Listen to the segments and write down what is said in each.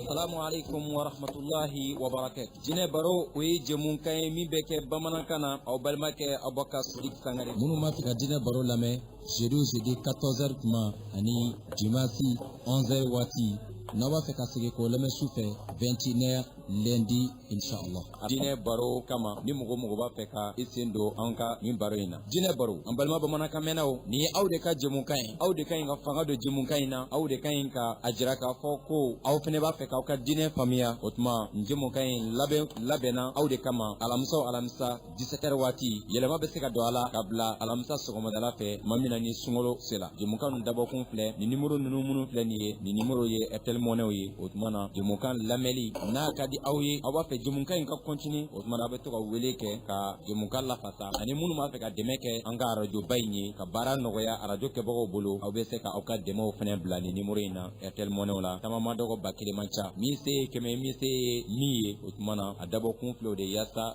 Assalamu alaikum wa rahmatullahi wa barakatuh. Diinɛ baro o ye jɛmunkan ye min bɛ kɛ bamanankan na aw balimakɛ Abubakar Sidik Sangare. Minnu b'a fɛ ka diinɛ baro lamɛn jeudi o jeudi 14h tuma ani dimanche 11h waati n'aw b'a fɛ ka segin k'o lamɛn su fɛ 21h lundi Insha Allah, diinɛ baro kama ni mɔgɔ o mɔgɔ b'a fɛ ka i sen don an ka nin baro in na, diinɛ baro an balima bamanankan mɛnnaw, nin ye aw de ka jɛmukan ye, aw de ka ɲi ka fanga don jɛmukan in na, aw de ka ɲi ka a jira k'a fɔ ko aw fɛnɛ b'a fɛ k'aw ka diinɛ faamuya, o tuma nin jɛmukan in labɛn labɛnna aw de kama alamisa o alamisa 17h waati yɛlɛma bɛ se ka don a la ka bila alamisa sɔgɔmadala fɛ tuma min na ni sunkalo sera jɛmukan ninnu dabɔkun filɛ ni numéro ninnu minnu filɛ nin ye nin numéro ye Airtel Money ye o tuma na jɛmukan lamɛnli n'a ka di aw ye aw b'a fɛ jɛmukan in ka continuer o tuma na a bɛ to ka wele kɛ ka jɛmukan lafasa ani minnu b'a fɛ ka dɛmɛ kɛ an ka arajoba in ye ka baara nɔgɔya arajo kɛbagaw bolo aw bɛ se ka aw ka dɛmɛw fɛnɛ bila nin numéro in na Airtel Money la tama man dɔgɔ ba kelen man ca min se ye kɛmɛ min se ye min ye o tuma na a dabɔkun filɛ de yaasa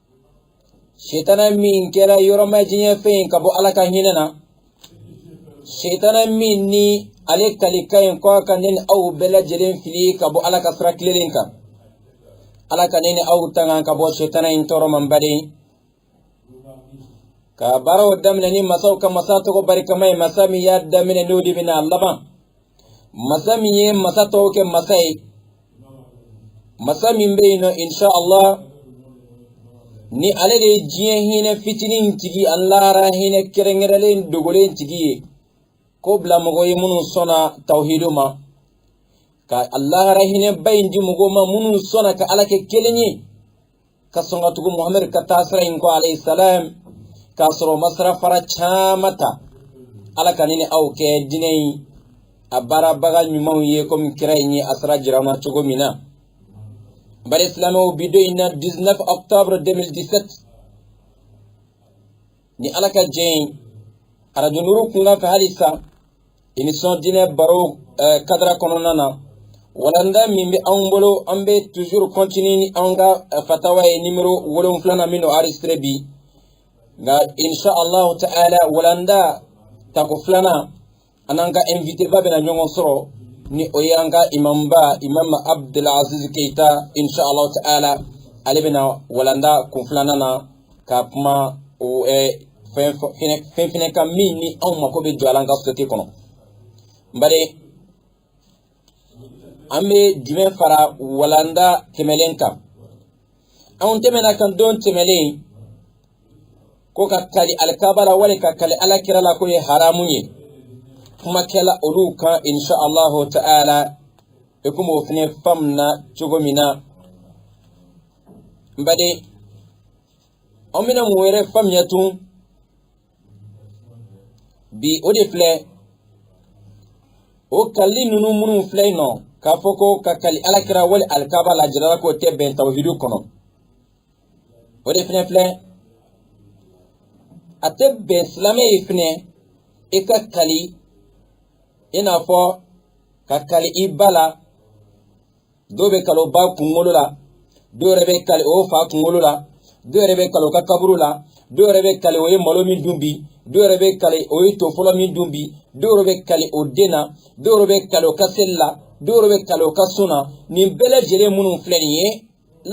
setana min kɛra yɔrɔmajanya fɛn ye ka bɔ ala ka hinɛ na setana min ni ale kalikan ye ko a ka ne ni aw bɛɛ lajɛlen fili ka bɔ ala ka sira tilelen kan ala ka ne ni aw tanga ka bɔ setana in tɔɔrɔ ma n baden ka baaraw daminɛ ni masaw ka masa tɔgɔ barikama ye masa min y'a daminɛ n'o de bɛn'a laban masa min ye masa tɔw kɛ masa ye masa min bɛ yen nɔ insha allah ni ale de diɲɛ hinɛ fitinin tigi ani lahara hinɛ kɛrɛnkɛrɛnlen dogolen tigi ye k'o bila mɔgɔw ye minnu sɔnna tawhidu ma ka lahara hinɛba in di mɔgɔw ma minnu sɔnna ka ala kɛ kelen ye ka sɔn ka tugu muhamadu ka taa sira in kɔ alayhi salam k'a sɔrɔ o ma sira fara caman ta ala ka ne ni aw kɛ diinɛ in a baarabaga ɲumanw ye komi kira in ye a sira jira an na cogo min na baden silamɛw bi don in na 19 octobre 2017 ni ala ka jɛ ye arajo nuru kunkan fɛ hali sisan emission diinɛ baro eh, cadre kɔnɔna na walanda min bɛ anw bolo an bɛ toujours continuer ni anw ka eh, fatawa ye nimero wolonwulana min don enregistré bi nka insha allahu ta'ala walanda tako filanan an n'an ka invité ba bɛna ɲɔgɔn sɔrɔ ni o ye an ka imamba imam abdulaziz keyita inshallah ta'ala ale bɛna walanda kun filanan na ka kuma o eh, fɛn fɛn fɛnɛ kan min ni anw mako bɛ jɔ a la an ka société kɔnɔ n baden an bɛ jumɛn fara walanda tɛmɛlen kan anw tɛmɛna kan don tɛmɛlen ko ka kali alikaba la wali ka kali alakira la k'o ye haramu ye kuma kɛla olu kan insha allahu ta'ala i komi o fɛnɛ faamuna cogo min na n baden an bɛna mun wɛrɛ faamuya tun bi o de filɛ o kalili ninnu minnu filɛ yen nɔ k'a fɔ ko ka kali alakira wali alikaba la jirala k'o tɛ bɛn tawhidu kɔnɔ o de fɛnɛ filɛ a tɛ bɛn silamɛ ye fɛnɛ i ka kali i n'a fɔ ka kali i ba la dɔw bɛ kali o ba kunkolo la dɔw yɛrɛ bɛ kali o fa kunkolo la dɔw yɛrɛ bɛ kali o ka kaburu la dɔw yɛrɛ bɛ kali o ye malo min dun bi dɔw yɛrɛ bɛ kali o ye to fɔlɔ min dun bi dɔw yɛrɛ bɛ kali o den na dɔw yɛrɛ bɛ kali o ka seli la dɔw yɛrɛ bɛ kali o ka sun na nin bɛɛ lajɛlen minnu filɛ nin ye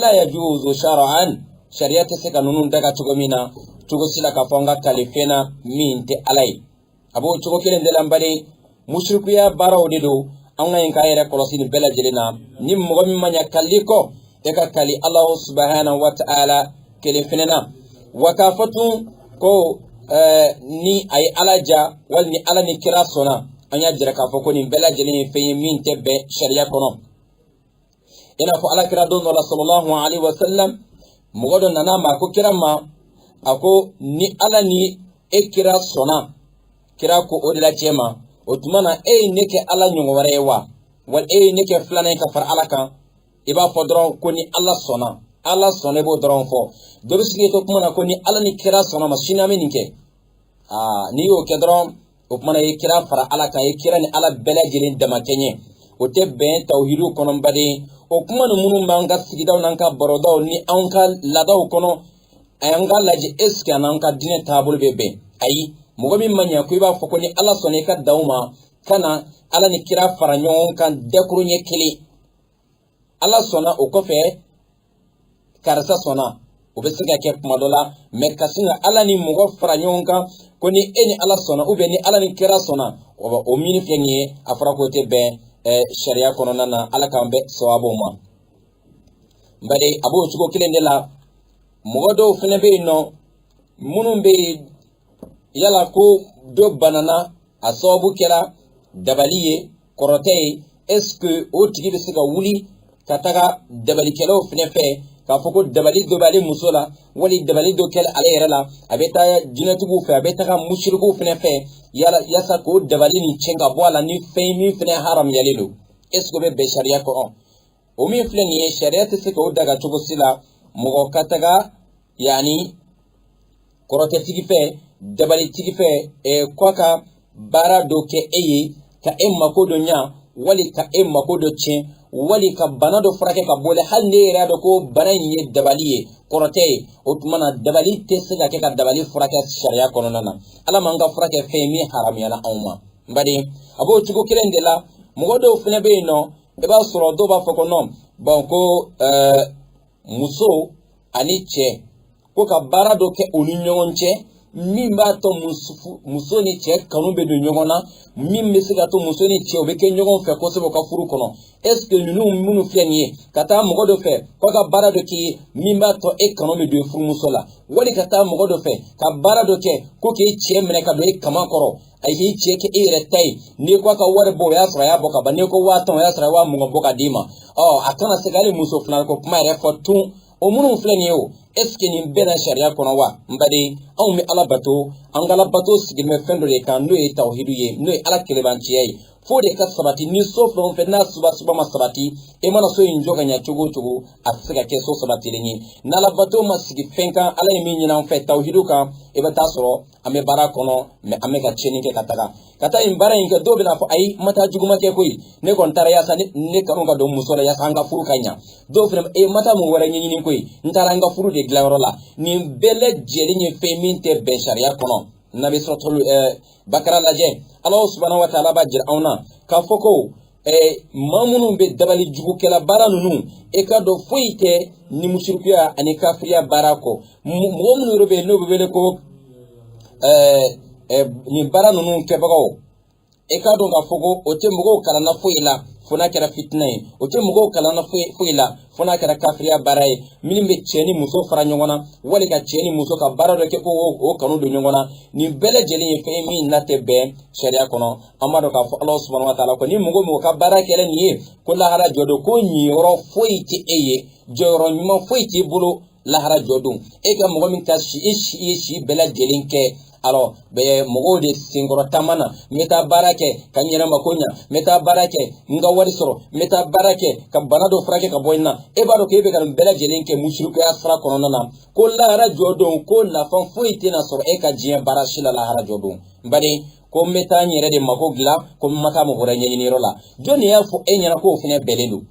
la yajuzu shar'an sariya tɛ se ka ninnu daga cogo min na cogo si la k'a fɔ an ka kali fɛn na min tɛ ala ye a b'o cogo kelen de la n baden musirikuya baaraw de don an ka ɲi k'an yɛrɛ kɔlɔsi nin bɛɛ lajɛlen na ni mɔgɔ min ma ɲa kalili kɔ i ka kali alahu subahana wa taala kelen fɛnɛ na wa k'a fɔ tun ko ni a ye ala diya wali ni ala ni kira sɔnna an y'a jira k'a fɔ ko nin bɛɛ lajɛlen ye fɛn ye min tɛ bɛn sariya kɔnɔ i n'a fɔ alakira don dɔ la sallallahu alayhi wa sallam mɔgɔ dɔ nana a ma a ko kira ma a ko ni ala ni e kira sɔnna kira ko o de la cɛ ma o tuma na e ye ne kɛ ala ɲɔgɔn wɛrɛ ye wa wali e ye ne kɛ filanan ye ka fara ala kan i b'a fɔ dɔrɔn ko ni ala sɔnna ala sɔnna i b'o dɔrɔn fɔ dɔ bɛ sigi to kuma na ko ni ala ni kira sɔnna ma sini an bɛ nin kɛ aa n'i y'o kɛ dɔrɔn o tuma na i ye kira fara ala kan i ye kira ni ala bɛɛ lajɛlen damakɛɲɛ o tɛ bɛn tawhidu kɔnɔ n baden o kuma ninnu minnu b'an ka sigidaw n'an ka barodaw ni anw ka laadaw kɔnɔ a y'an k'a lajɛ est-ce que a n'an ka diinɛ taabolo bɛ bɛn ayi mɔgɔ min ma ɲɛ a kɔ i b'a fɔ ko ni ala sɔnna i ka dan o ma kana ala ni kira fara ɲɔgɔn kan dakuruɲɛ kelen ala sɔnna o kɔfɛ karisa sɔnna o bɛ se ka kɛ kuma dɔ la mais ka sin ka ala ni mɔgɔ fara ɲɔgɔn kan ko ni e ni ala sɔnna ou bien ni ala ni kira sɔnna o min filɛ nin ye a fɔra k'o tɛ bɛn sariya kɔnɔna na ala k'an bɛn sawabu ma bari a b'o cogo kelen de la mɔgɔ dɔw fana bɛ yen nɔ minnu bɛ yaala ko dɔ banana a sababu kɛra dabali ye kɔrɔtɛ ye est ce que o tigi bɛ se ka wuli ka taga dabalikɛlaw fɛnɛ fɛ k'a fɔ ko dabali dɔ b'ale muso la wali dabali dɔ kɛla ale yɛrɛ la a bɛ taa jinɛtigiw fɛ a bɛ taga musirikuw fɛnɛ fɛ yaasa k'o dabali nin cɛn ka bɔ a la ni fɛn ye min fɛnɛ haramuyalen don est ce que o bɛ bɛn sariya kɔnɔ o min filɛ nin ye sariya tɛ se k'o daga cogo si la mɔgɔ ka taga yani kɔrɔtɛtigi fɛ dabalitigi fɛ ɛɛ ko ka baara dɔ kɛ e ye ka e mako dɔ ɲa wali ka e mako dɔ tiɲɛ wali ka bana dɔ furakɛ ka bɔ la hali n'e yɛrɛ y'a dɔn ko bana in ye dabali ye kɔrɔtɛ ye o tuma na dabali tɛ se ka kɛ ka dabali furakɛ sariya kɔnɔna na ala m'an ka fura kɛ fɛn min haramuyala anw ma n baden a b'o cogo kelen de la mɔgɔ dɔw fana bɛ yen nɔ i b'a sɔrɔ dɔw b'a fɔ ko non bon ko ɛɛ muso ani cɛ ko ka baara dɔ kɛ u ni ɲɔgɔn cɛ min b'a to muso ni cɛ kanu bɛ don ɲɔgɔn na min bɛ se k'a to muso ni cɛ u bɛ kɛ ɲɔgɔn fɛ kosɛbɛ u ka furu kɔnɔ est ce que ninnu minnu filɛ nin ye ka taa mɔgɔ dɔ fɛ ko ka baara dɔ k'i ye min b'a to e kanu bɛ don i furumuso la wali ka taa mɔgɔ dɔ fɛ ka baara dɔ kɛ ko k'e cɛ minɛ ka don e kaman kɔrɔ a k'i cɛ kɛ e yɛrɛ ta ye n'i ko a ka wari bɔ o y'a sɔrɔ a y'a bɔ ka ban n'i ko waa tan o y'a sɔrɔ a ye waa mugan bɔ ka d'i ma ɔ a kana se ka hali muso filanan ko kuma yɛrɛ fɔ tun o minnu filɛ nin ye o est ce que nin bɛnna sariya kɔnɔ wa n baden anw bɛ ala bato an ka ala bato sigilen bɛ fɛn dɔ de kan n'o ye tawhidu ye n'o ye ala kelebanciya ye f'o de ka sabati ni so fɛn o fɛn n'a soubassement ma sabati e mana so in jɔ ka ɲa cogo o cogo a tɛ se ka kɛ so sabatilen ye n'ala bato ma sigi fɛn kan ala ye min ɲin'an fɛ tawhidu kan i bɛ t'a sɔrɔ an bɛ baara kɔnɔ mais an bɛ ka tiɲɛni kɛ ka taga ka taa nin baara in kɛ dɔw bɛna fɔ ayi n ma taa juguman kɛ koyi ne kɔni taara yaasa ne kanu ka don muso la yaasa an ka furu ka ɲa dɔw fana ne ma taa mun wɛrɛ ɲɛɲini koyi n taara an ka furu de dilanyɔrɔ la nin bɛɛ lajɛlen ye fɛn min tɛ bɛn sariya kɔnɔ n'an bɛ suratul bakara lajɛ ala subahana wa taala b'a jira anw na k'a fɔ ko ɛɛ maa minnu bɛ dabali jugu kɛla baara ninnu e k'a dɔn foyi tɛ ni musirikuya ani kafiriya baara kɔ mɔgɔ minnu yɛrɛ bɛ yen n'o bɛ wele ko ɛɛ ɛɛ nin baara ninnu kɛbagaw e k'a dɔn k'a fɔ ko o tɛ mɔgɔw kalanna foyi la fo n'a kɛra fitina ye o tɛ mɔgɔw kalanna foyi foyi la fo n'a kɛra kafiriya baara ye min bɛ cɛ ni muso fara ɲɔgɔn na wali ka cɛ ni muso ka baara dɔ kɛ ko o kanu don ɲɔgɔn na nin bɛɛ lajɛlen ye fɛn ye min n'a tɛ bɛn sariya kɔnɔ an b'a dɔn k'a fɔ ala subahana wa taala ko ni mɔgɔ mɔgɔ ka baara kɛra nin ye ko lahara jɔ don ko niyɔrɔ foyi tɛ e ye jɔyɔrɔ ɲuman foyi t'i bolo lahara jɔ don e ka mɔgɔ min ka si e si y'i si bɛɛ lajɛlen kɛ alors i bɛ mɔgɔw de senkɔrɔ taama na n bɛ taa baara kɛ ka n yɛrɛ mako ɲa n bɛ taa baara kɛ n ka wari sɔrɔ n bɛ taa baara kɛ ka bana dɔ furakɛ ka bɔ n na e b'a dɔn k'e bɛ ka nin bɛɛ lajɛlen kɛ musirikuya sira kɔnɔna na ko lahara jɔ don ko nafa foyi tɛna sɔrɔ e ka diɲɛ baara si la lahara jɔ don n baden ko n bɛ taa n yɛrɛ de mako dilan ko n ma taa mɔgɔ wɛrɛ ɲɛɲiniyɔrɔ la jɔn de y'a fɔ e ɲɛna k'o fana bɛnnen don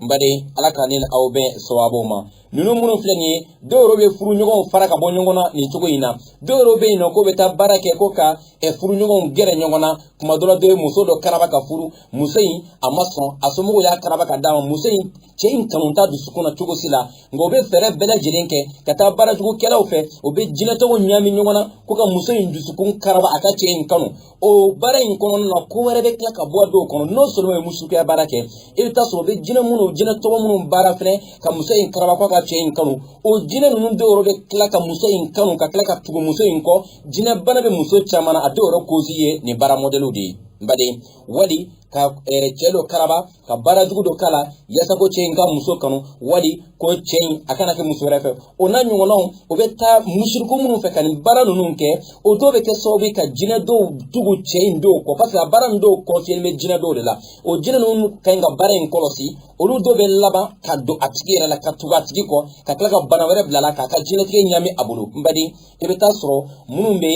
n baden ala ka ne ni aw bɛn sawabu ma ninnu minnu filɛ nin ye dɔw yɛrɛ bɛ furuɲɔgɔnw fara ka bɔ ɲɔgɔn na nin cogo in na dɔw yɛrɛ bɛ yen nɔ k'o bɛ taa baara kɛ ko ka furuɲɔgɔnw gɛrɛ ɲɔgɔn na kuma dɔ la dɔ ye muso dɔ karaba ka furu muso in a ma sɔn a somɔgɔw y'a karaba ka d'a ma muso in cɛ in kanu t'a dusukun na cogo si la nka u bɛ fɛɛrɛ bɛɛ lajɛlen kɛ ka taa baarajugukɛlaw fɛ u bɛ jinɛtɔgɔw ɲaami ɲɔgɔn na ko ka muso in dusukun karaba a ka cɛ in kanu o baara in kɔnɔna na ko wɛrɛ bɛ tila ka bɔ a dɔw kɔnɔ n'o sɔrɔ ye musirikuya baara kɛ i bɛ taa sɔrɔ u bɛ jinɛ minnu jinɛtɔgɔ minnu baara fɛnɛ ka muso in karaba ko a ka cɛ in kanu o jinɛ ninnu dɔw yɛrɛ bɛ tila ka muso in kanu ka tila ka tugu muso in kɔ jinɛ bana bɛ muso caman na a dɔw yɛrɛ kozi ye nin baara mɔdɛliw de ye n baden wali ka cɛ dɔ karaba ka baara jugu dɔ k'a la yaasa ko cɛ in ka muso kanu wali ko cɛ in a kana kɛ muso wɛrɛ fɛ o n'a ɲɔgɔnnaw o bɛ taa musiriku minnu fɛ ka nin baara ninnu kɛ o dɔw bɛ kɛ sababu ye ka jinɛ dɔw tugu cɛ in dɔw kɔ paseke a baara ninnu dɔw kɔnfiyelen bɛ jinɛ dɔw de la o jinɛ ninnu ka ɲi ka baara in kɔlɔsi olu dɔw bɛ laban ka don a tigi yɛrɛ la ka tugu a tigi kɔ ka tila ka bana wɛrɛ bila a la k'a ka diɲɛlatigɛ ɲaami a bolo n baden i bɛ taa sɔrɔ minnu bɛ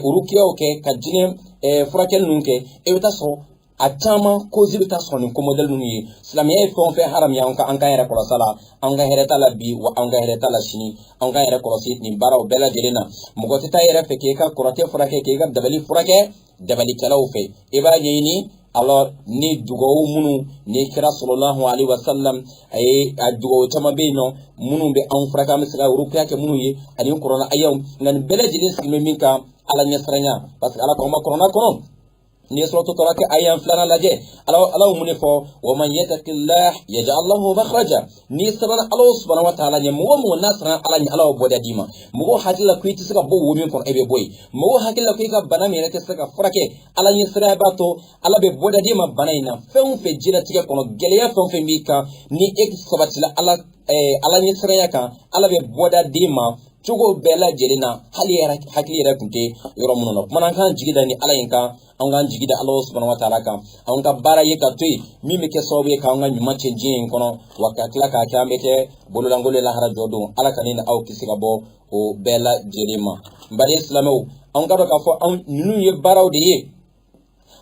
rukiyaw kɛ ka jinɛ furakɛli ninnu kɛ i bɛ taa sɔrɔ a caman kozi bɛ taa sɔrɔ nin ko mɔdɛli ninnu ye silamɛya ye fɛn o fɛn haramuya an ka an k'an yɛrɛ kɔlɔsi a la an ka hɛrɛ t'a la bi wa an ka hɛrɛ t'a la sini an k'an yɛrɛ kɔlɔsi nin baaraw bɛɛ lajɛlen na mɔgɔ tɛ taa yɛrɛ fɛ k'e ka kɔrɔtɛ furakɛ k'e ka dabali furakɛ dabalikɛlaw fɛ i b'a ɲɛɲini alors ni dugawu minnu ni kira sallallahu alaihi wasallam a ye a dugawu caman bɛ yen nɔ minnu bɛ anw furakɛ an bɛ se ka rukiya kɛ minnu ye ani kurana ayaw nka nin bɛɛ lajɛlen sigilen bɛ min kan ala ɲɛsiranya parce que ala ko an ma kurana kɔnɔ n'i ye suratu talaq aya filanan lajɛ ala ala ye mun de fɔ wa man yatakillah yaj'al lahu makhraja n'i siranna ala subhanahu wa ta'ala ɲɛ mɔgɔ o mɔgɔ n'a siranna ala ɲɛ ala b'o bɔda d'i ma mɔgɔ hakili la ko i tɛ se ka bɔ wo min kɔnɔ e bɛ bɔ yen mɔgɔ hakili la ko i ka bana min yɛrɛ tɛ se ka furakɛ ala ɲɛ siranya b'a to ala bɛ bɔda d'i ma bana in na fɛn o fɛn diɲɛlatigɛ kɔnɔ gɛlɛya fɛn o fɛn b'i kan ni e sabatila ala ala ɲɛ siranya kan ala bɛ bɔda d'i ma cogo bɛɛ lajɛlen na hali i hakili yɛrɛ tun tɛ yɔrɔ minnu na kumana an k'an jigi da nin ala in kan an k'an jigi da ala subahana wa taala kan an ka baara ye ka to yen min bɛ kɛ sababu ye k'an ka ɲuman tiɲɛ diɲɛ in kɔnɔ wa ka tila k'a kɛ an bɛ kɛ bololankolon ye lahara jɔ don ala ka ne ni aw kisi ka bɔ o bɛɛ lajɛlen ma n baden silamɛw an k'a dɔn k'a fɔ ninnu ye baaraw de ye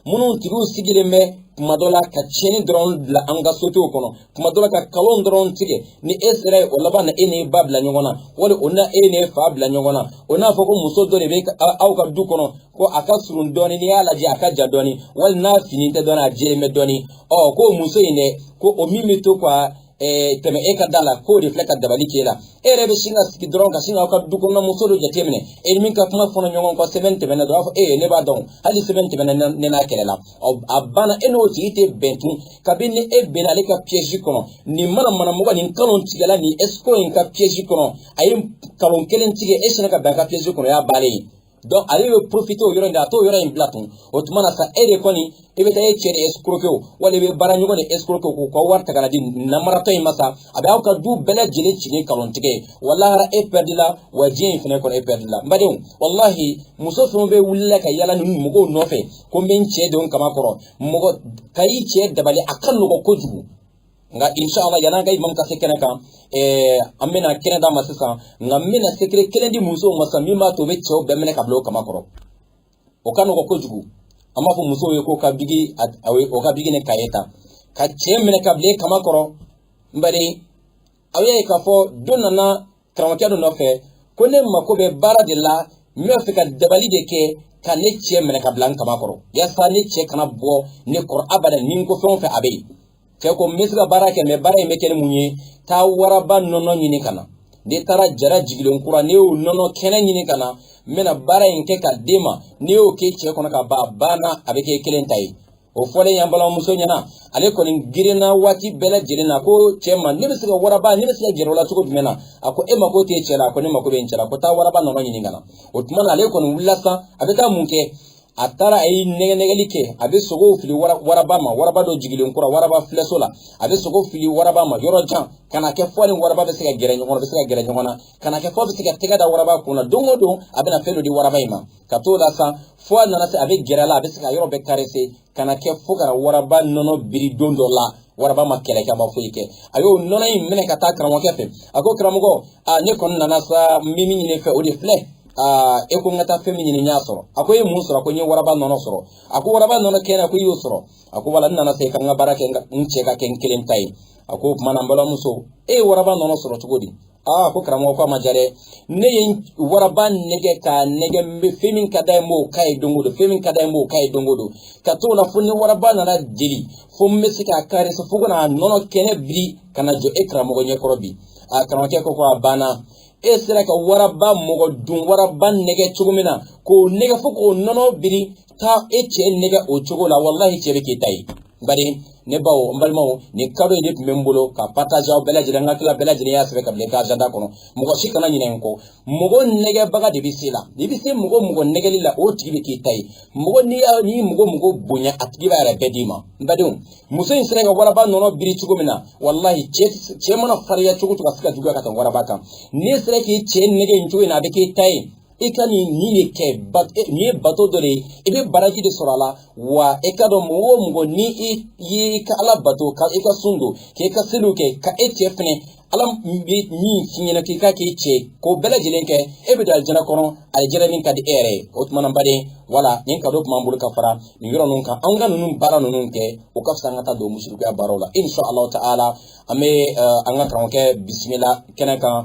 minnu tigiw sigilen bɛ kuma dɔ la ka tiɲɛni dɔrɔn bila an ka sosiyetew kɔnɔ kuma dɔ la ka kalon dɔrɔn tigɛ ni e sera yen o laban na e n'i ba bila ɲɔgɔn na wali o na e n'i fa bila ɲɔgɔn na o n'a fɔ ko muso dɔ de bɛ aw ka du kɔnɔ ko a ka surun dɔɔni n'i y'a lajɛ a ka jan dɔɔni wali n'a finnen tɛ dɔɔni a jɛlen bɛ dɔɔni ɔ ko muso in dɛ ko o min bɛ to ka ɛɛ tɛmɛ e ka da la k'o de filɛ ka dabali k'e la e yɛrɛ bɛ sin ka sigi dɔrɔn ka sin k'aw ka du kɔnɔna muso dɔ jateminɛ e ni min ka kuma fɔlɔ ɲɔgɔn kɔ semaine tɛmɛna dɔrɔn a fɔ ee ne b'a dɔn hali semaine tɛmɛna ne n'a kɛlɛla ɔ a banna e n'o tigi tɛ bɛn tun kabini ni e bɛnna ale ka piège kɔnɔ nin mana mana mɔgɔ nin kalontigɛla nin escroc in ka piège kɔnɔ a ye kalon kelen tigɛ e sinna ka bɛn a ka piège kɔnɔ o y'a bannen ye donc ale bɛ profiter o yɔrɔ in de a t'o yɔrɔ in bila tun o tuma na sa e de kɔni i bɛ taa e cɛ de escroquer o wala i bɛ baara ɲɔgɔn de escroquer k'u ka wari ta ka na di namaratɔ in ma sa a bɛ aw ka du bɛɛ lajɛlen ci ni kalontigɛ ye wa lahara e pɛridila wa diɲɛ in fana kɔnɔ e pɛridila n badenw walahi muso fɛn o fɛn wulila ka yaala nin mɔgɔw nɔfɛ ko n bɛ n cɛ don n kama kɔrɔ mɔgɔ ka i cɛ dabali a ka nɔgɔn kojugu nka inshallah yan'an ka imam ka se kɛnɛ kan eh, an bɛna kɛnɛ d'a ma sisan nka n bɛna secret kelen di musow ma sisan min b'a to u bɛ cɛw bɛɛ minɛ ka bila o kama kɔrɔ o ka nɔgɔn kojugu an b'a fɔ musow ye k'o ka biki o ka biki ni kaye ta ka cɛ minɛ ka bila e kama kɔrɔ n bari aw y'a ye k'a fɔ dɔ nana karamɔgɔkɛ dɔ nɔfɛ ko ne mako bɛ baara de la n b'a fɛ ka dabali de kɛ ka ne cɛ minɛ ka bila n kama kɔrɔ yasa ne cɛ kana bɔ ne kɔrɔ abada ni n ko fɛn o fɛn a bɛ yen cɛ ko n bɛ se ka baara kɛ mais baara in bɛ kɛ ni mun ye taa waraba nɔnɔ ɲini ka na n'i taara jara jigilen kura n'i y'o nɔnɔ kɛnɛ ɲini ka na n bɛna baara in kɛ ka d'e ma n'i y'o k'e cɛ kɔnɔ ka ban a banna a bɛ k'e kelen ta ye o fɔlen y'an balimamuso ɲɛ na ale kɔni girinna waati bɛɛ lajɛlen na ko cɛ ma ne bɛ se ka waraba ne bɛ se ka gɛrɛ o la cogo jumɛn na a ko e mako t'e cɛ la a ko ne mako bɛ n cɛ la ko taa waraba nɔnɔ ɲini ka na o tuma na ale kɔni wulila sisan a bɛ taa mun kɛ a taara a ye nɛgɛnɛgɛli kɛ a bɛ sogow fili waraba ma waraba dɔ jigilen kura waraba filɛso la a bɛ sogo fili waraba ma yɔrɔ jan ka na kɛ f'a ni waraba bɛ se ka gɛrɛ ɲɔgɔn na bɛ se ka gɛrɛ ɲɔgɔn na ka na kɛ f'a bɛ se ka tɛgɛ da waraba kun na don o don a bɛna fɛn dɔ di waraba in ma ka t'o la sa fo a nana se a bɛ gɛrɛ a la a bɛ se k'a yɔrɔ bɛɛ karese ka na kɛ fo ka na waraba nɔnɔ biri don dɔ la waraba ma kɛlɛ kɛ a ma foyi kɛ a y'o nɔnɔ in minɛ ka taa karamɔgɔkɛ fɛ a ko karamɔgɔ aa ne kɔni nana sa n bɛ min ɲini fɛ o de filɛ aa e ko n ka taa fɛn min ɲini n y'a sɔrɔ a ko e ye mun sɔrɔ a ko n ye waraba nɔnɔ sɔrɔ a ko waraba nɔnɔ kɛnɛ a ko i y'o sɔrɔ a ko wala n nana sa e ka n ka baara kɛ n cɛ ka kɛ n kelen ta ye a ko o tuma na n balimamuso e ye waraba nɔnɔ sɔrɔ cogo di aa ko karamɔgɔ ko a ma diya dɛ ne ye waraba nɛgɛ k'a nɛgɛ n bɛ fɛn min ka d'a ye n b'o k'a ye don o don fɛn min ka d'a ye n b'o k'a ye don o don ka t'o la fo n ni waraba nana deli fo n bɛ se k'a karese fo ka na a nɔnɔ kɛnɛ biri ka na jɔ e karamɔgɔ ɲɛkɔrɔ bi a karamɔgɔkɛ ko ko a banna e sera ka waraba mɔgɔdun waraba nɛgɛ cogo min na k'o nɛgɛ fo k'o nɔnɔ biri taa e cɛ nɛgɛ o cogo la walahi cɛ bɛ k'i ta ye bari ne baw n balimaw nin kado in de tun bɛ n bolo ka partage aw bɛɛ lajɛlen n ka tila bɛɛ lajɛlen y'a sɛbɛn ka bila i ka agenda kɔnɔ mɔgɔ si kana ɲinɛ n kɔ mɔgɔ nɛgɛbaga de bɛ se la n'i bɛ se mɔgɔ mɔgɔ nɛgɛli la o tigi bɛ k'i ta ye mɔgɔ n'i y'a n'i mɔgɔ mɔgɔ bonya a tigi b'a yɛrɛ bɛɛ d'i ma n badenw muso in sera ka waraba nɔnɔ biri cogo min na walahi cɛ cɛ mana farinya cogo o cogo a se ka juguya ka tɛmɛ waraba kan n'i sera k'i cɛ nɛgɛ in cogo in na a bɛ k'i ta ye i ka nin nin de kɛ nin ye bato dɔ de ye i bɛ baraji de sɔrɔ a la wa i ka dɔn mɔgɔ o mɔgɔ ni i ye i ka ala bato ka i ka sun don k'i ka seliw kɛ ka e cɛ fɛnɛ ala bɛ min f'i ɲɛna k'i ka k'i cɛ k'o bɛɛ lajɛlen kɛ e bɛ don alijana kɔnɔ alijana min ka di e yɛrɛ ye o tuma na baden wala nin kado tun b'an bolo ka fara nin yɔrɔ ninnu kan anw ka ninnu baara ninnu kɛ o ka fisa an ka taa don musirikuya baaraw la insha allahu ta'ala an bɛ an ka karamɔgɔkɛ bisimila kɛnɛ kan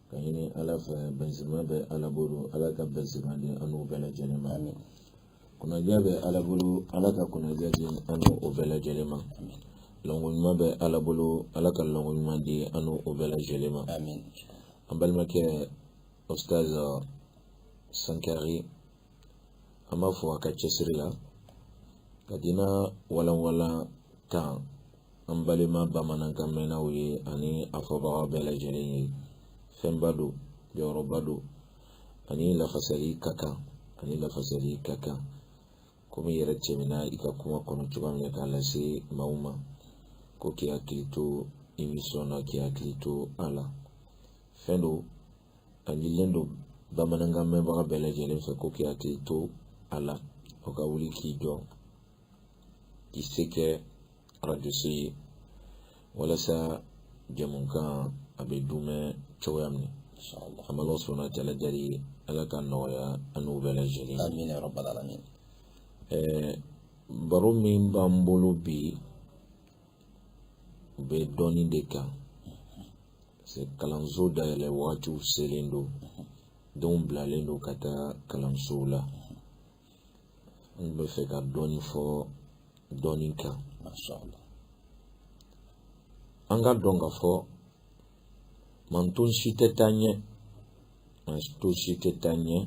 ka ɲini ala fɛ bɛnzima bɛ ala bolo ala ka bɛnzima di an n'aw bɛɛ lajɛlen ma kunnadiya bɛ ala bolo ala ka kunnadiya di an n'aw bɛɛ lajɛlen ma lɔngo ɲuman bɛ ala bolo ala ka lɔngo ɲuman di an n'aw bɛɛ lajɛlen ma an balimakɛ ostaz sankari an b'a fo a ka cɛsiri la ka dina walanwalan kan an balima bamanankan mɛnnaw ye ani a fɔbaga bɛɛ lajɛlen ye fɛnba don jɔyɔrɔba don a ni lafasali ka kan a ni lafasali ka kan komi i yɛrɛ tɛmɛna i ka kuma kɔnɔ cogoya min na k'a lase maaw ma ko k'i hakili to emisɔn na k'i hakili to a la fɛn don a ɲinilen don bamanankan mɛnbaga bɛɛ lajɛlen fɛ ko k'i hakili to a la o ka wuli k'i jɔ k'i se kɛ arajoso ye walasa jɛmukan a bɛ dumɛ cogoya min an bɛ ala subahanahu wa ta'ala deli ala ka nɔgɔya an n'aw bɛɛ lajɛlen amin ya rabbal alamin ɛɛ baro min b'an bolo bi o bɛ dɔnni de kan kalanso dayɛlɛ wagatiw selen don denw bilalen don ka taa kalansow la an bɛ fɛ ka dɔɔnin fɔ dɔnni kan an k'a dɔn k'a fɔ manton si tɛ taa ɲɛ manton si tɛ taa ɲɛ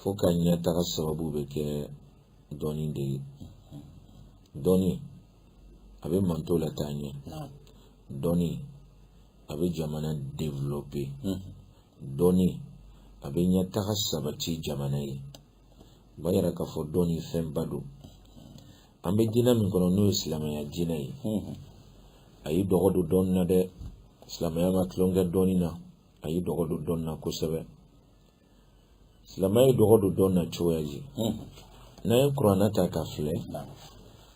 fo ka ɲɛtaga sababu bɛ kɛ dɔnni de ye dɔnni a bɛ manton lataa ɲɛ dɔnni a bɛ jamana développer dɔnni a bɛ ɲɛtaga sabati jamana ye o b'a yira k'a fɔ dɔnni fɛnba don an bɛ diinɛ min kɔnɔ n'o ye silamɛya diinɛ ye a y'i dɔgɔ don dɔnni na dɛ silamɛya ma tulon kɛ dɔnni na a y'i dɔgɔ don dɔnni na kosɛbɛ silamɛya ye dɔgɔ don dɔnni na cogoya di n'an ye kuranɛ ta ka filɛ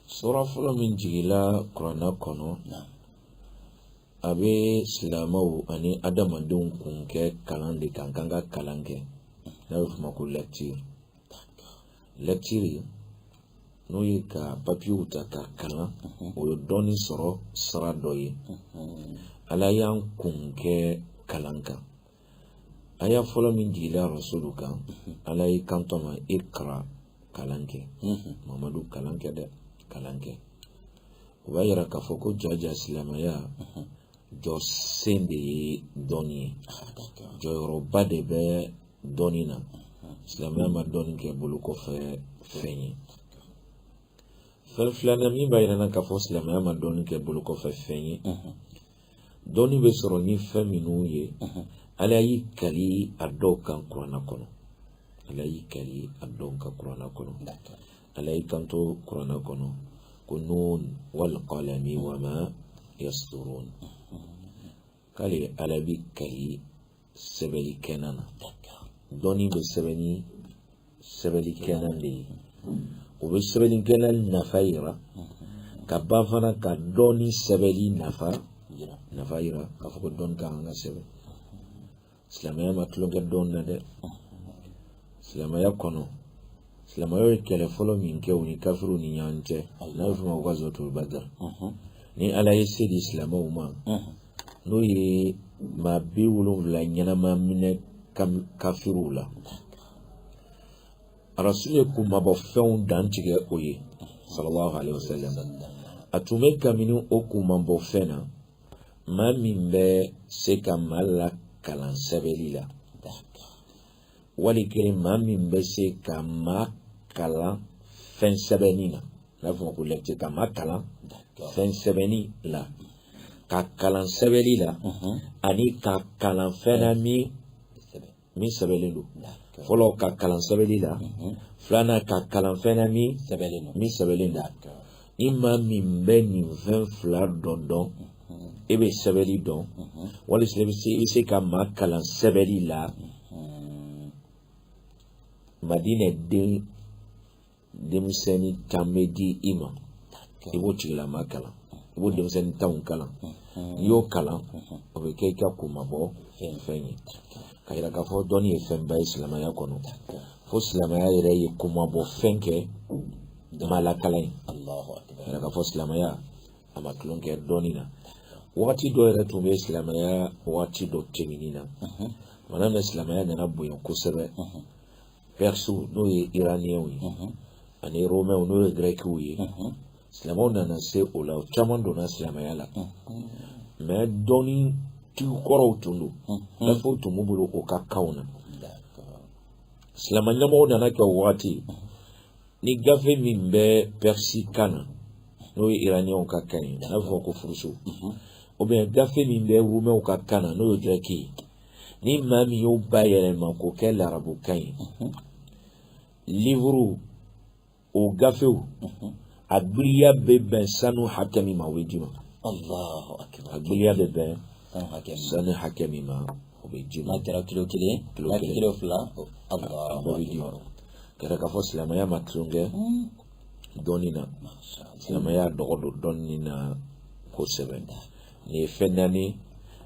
sura fɔlɔ min jigila kuranɛ kɔnɔ a bɛ silamɛw ani adamadenw kun kɛ kalan de kan k'an ka kalan kɛ n'a bɛ f'o ma ko lecture lecture n'o ye ka papiyew ta ka kalan o ye dɔnni sɔrɔ sira dɔ ye ala y'an kun kɛ kalan kan aya fɔlɔ min jigila rasulu kan ala y'i kanto ma ikra kalan kɛ mamadu kalan kɛ dɛ kalan kɛ o b'a yira k'a fɔ ko jaja silamɛya jɔsen de ye dɔnni ye jɔyɔrɔba de bɛ dɔnni na silamɛya ma dɔnni kɛ bolo kɔfɛ fɛn ye fɛn filanan min b'a yira an na k'a fɔ silamɛya ma dɔnni kɛ bolo kɔfɛ fɛn ye dɔnni bɛ sɔrɔ ni fɛn minnu ye ala y'i kali a dɔw kan kuranɛ kɔnɔ ala y'i kali a dɔw kan kuranɛ kɔnɔ ala y'i kanto kuranɛ kɔnɔ ko nun wal qalami wa ma yasturun k'ale ala b'i kali sɛbɛlikɛlan na dɔnni bɛ sɛbɛn ni sɛbɛlikɛlan de ye o bɛ sɛbɛlikɛlan nafa yira ka ban fana ka dɔnni sɛbɛli nafa yira k'a fɔ ko dɔnni ka kan ka sɛbɛn silamɛya ma tulon kɛ dɔnni na dɛ silamɛya kɔnɔ silamɛw ye kɛlɛ fɔlɔ min kɛ u ni kafiriw ni ɲɔgɔn cɛ n'a bɛ f'o ma ko gazwatul badr ni ala ye se di silamɛw ma n'u ye maa bi wolonfila ɲɛnama minɛ kafiriw la arasulu ye kunmabɔ fɛnw dantigɛ o ye sallallahu alaihi wasallam a tun bɛ kabini o kunmabɔ fɛn na maa min bɛ se ka maa lakalan sɛbɛnni la wali kelen maa min bɛ se ka maa kalan fɛn sɛbɛnnen na n'a fɔ ko lecture ka maa kalan fɛn sɛbɛnni la k'a kalan sɛbɛnni la ani k'a kalan fɛn na min min sɛbɛnlen don fɔlɔ k'a kalan sɛbɛnni la filanan k'a kalan fɛn na min sɛbɛnlen don ni maa min bɛ nin fɛn fila dɔn dɔn e bɛ sɛbɛnni dɔn wali i bɛ se ka maa kalan sɛbɛnni la madinɛ denmisɛnnin tan bɛ di i ma i b'o tigilama kalan i b'o denmisɛnnin tanw kalan n'i y'o kalan o bɛ kɛ i ka kunmabɔ fɛn ye ka yira k'a fɔ dɔnni ye fɛnba ye silamɛya kɔnɔ fo silamɛya yɛrɛ ye kunmabɔ fɛn kɛ ma lakala ye k'a yira k'a fɔ silamɛya a ma tulon kɛ dɔnni na wagati dɔ yɛrɛ tun bɛ silamɛya wagati dɔ tɛmɛni na mana min silamɛya nana bonya kosɛbɛ pɛrisiw n'o ye iraniyɛnw ye ani romɛw n'o ye gɛrɛkiw ye silamɛw nana se o la o caman donna silamɛya la mɛ dɔnni tigi kɔrɔw tun don gafew tun b'u bolo o ka kanw na silamɛ ɲɛmɔgɔw nana kɛ o wagati ni gafe min bɛ pɛrisi kan na n'o ye iraniyanw ka kan ye n'a bɛ fɔ ko furusu ou bien gafe min bɛ rumɛw ka kan na n'o ye gɛrɛki ye ni maa min y'o bayɛlɛma k'o kɛ larabu kan ye livuru o gafew a gbiliya bɛ bɛn sanu hakɛ min ma o bɛ d'i ma a gbiliya bɛ bɛn sanu hakɛ min ma o bɛ d'i ma n'a kɛra kilo kelen kilo kelen kilo fila a bɛ d'i ma k'a yira k'a fɔ silamɛya ma tulon kɛ dɔnni na silamɛya dɔgɔ don dɔnni na kosɛbɛ nin ye fɛn naani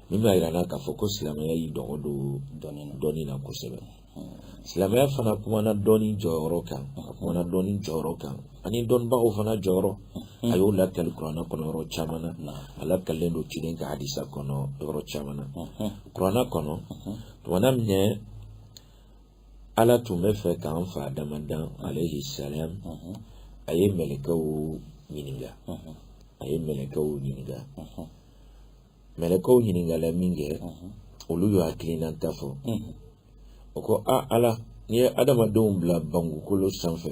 min b'a yira an na k'a fɔ ko silamɛya y'i dɔgɔ don dɔnni na kosɛbɛ silamɛya fana kumana dɔnni jɔyɔrɔ kan a kumana dɔnni jɔyɔrɔ kan ani dɔnnibagaw fana jɔyɔrɔ a y'o lakali kuranɛ kɔnɔ yɔrɔ caman na a lakalilen don ciden ka hadisa kɔnɔ yɔrɔ caman na kuranɛ kɔnɔ tumana minɛ ala tun b'a fɛ k'an fa adama dan alayhi salam a ye mɛlɛkɛw ɲininka a ye mɛlɛkɛw ɲininka mɛlɛkɛw ɲininkala minkɛ olu y'u hakilinata fɔ o ko a ala n'i ye adamadenw bila bankukolo sanfɛ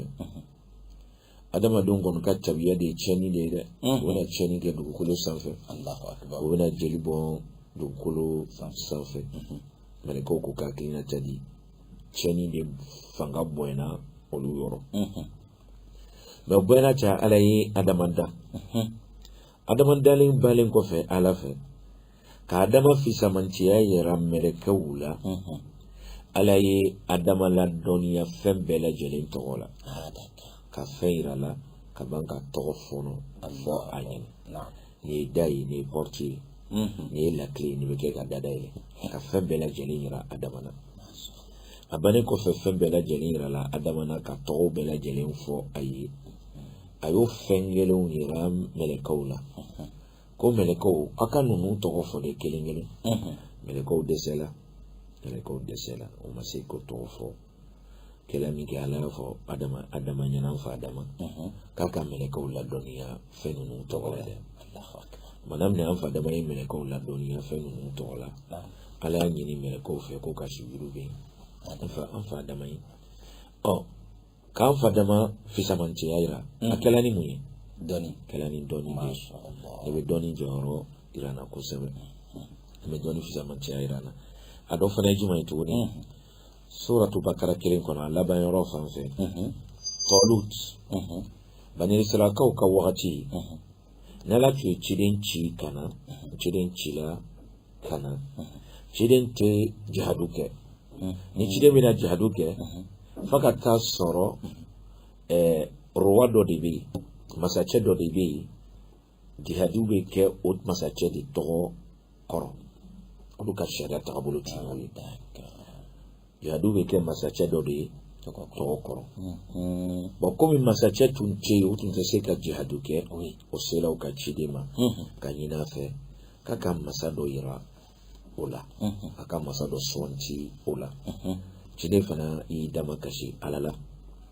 adamadenw kɔni ka tabiya de ye tiɲɛni de ye dɛ u bɛna tiɲɛni kɛ dugukolo sanfɛ u bɛna jeli bɔn dugukolo sanfɛ mɛlɛkɛw k'o ka hakilinata di tiɲɛni de fanga bonyana olu yɔrɔ mɛ o bɛɛ n'a ta ala ye adama da adama dalen balen kɔfɛ ala fɛ ka adama fisamantiya yira mɛlɛkɛw la ala ye adama ladɔnniya fɛn bɛɛ lajɛlen tɔgɔ la ka fɛn yir'a la ka ban k'a tɔgɔ fana fɔ a ɲɛna nin ye da ye nin ye pɔriti ye nin ye lakile ye nin bɛ kɛ ka da dayɛlɛ ka fɛn bɛɛ lajɛlen yira adama na a bannen kɔfɛ fɛn bɛɛ lajɛlen yirala adama na k'a tɔgɔw bɛɛ lajɛlen fɔ a ye a y'o fɛn kelenw yira mɛlɛkɛw la ko mɛlɛkɛw aw ka ninnu tɔgɔ fɔ n ye kelen kelen mɛlɛkɛw dɛsɛla mɛlɛkɛw dɛsɛla u ma se k'o tɔgɔ fɔ kɛlen minkɛ ala y'a fɔ adama adama ɲɛna an fa adama k'a ka mɛlɛkɛw ladɔnniya fɛn ninnu tɔgɔ la dɛ mana minɛ an fa adama ye mɛlɛkɛw ladɔnniya fɛn ninnu tɔgɔ la ala y'a ɲini mɛlɛkɛw fɛ k'o ka sujudu ben an fa adama ye ɔ k'an fa adama fisamantiya yira a kɛla ni mun ye dɔnni kɛla ni dɔnni de ye nin bɛ dɔnni jɔyɔrɔ yira an na kosɛbɛ nin bɛ dɔnni fisamantiya yira an na a dɔ fana ye jumɛn ye tuguni suratu bakara kelen kɔnɔ a laban yɔrɔ fan fɛ tɔlut bani israilakaw ka wagati ni ala tun ye ciden ci ka na ciden cila ka na ciden tɛ jihadu kɛ ni ciden bɛna jihadu kɛ fo ka taa sɔrɔ roi dɔ de bɛ yen masacɛ dɔ de bɛ yen jihadu bɛ kɛ o masacɛ de tɔgɔ kɔrɔ olu ka sariya taabolo tun y'o ye jihadu bɛ kɛ masacɛ dɔ de ye tɔgɔ kɔrɔ bon komi masacɛ tun tɛ yen u tun tɛ se ka jihadu kɛ o sera u ka ciden ma ka ɲin'a fɛ k'a ka masa dɔ yira o la a ka masa dɔ suganti o la ciden fana y'i damakasi ala la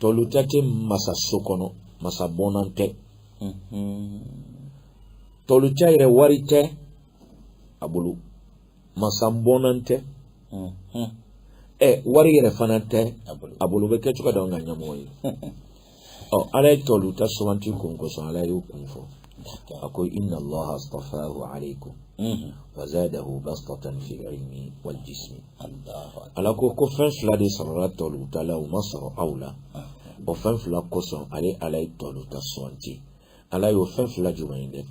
tɔluta tɛ masa so kɔnɔ masa bɔnna tɛ tɔluta yɛrɛ wari tɛ a bolo masa bɔnna tɛ ɛ wari yɛrɛ fana tɛ a bolo bɛ kɛ cogo di an ka ɲɛmɔgɔ ye ɔ ala ye tɔluta suganti kun kosɔn ala y'o kun fɔ a ko inna Allaha istafahu alaikum wa zadahu bastatan fil ilmi wal jismi ala ko ko fɛn fila de sɔrɔla tɔluta la o ma sɔrɔ aw la o fɛn fila kosɔn ale ala ye tɔluta suganti ala y'o fɛn fila jumɛn ye dɛ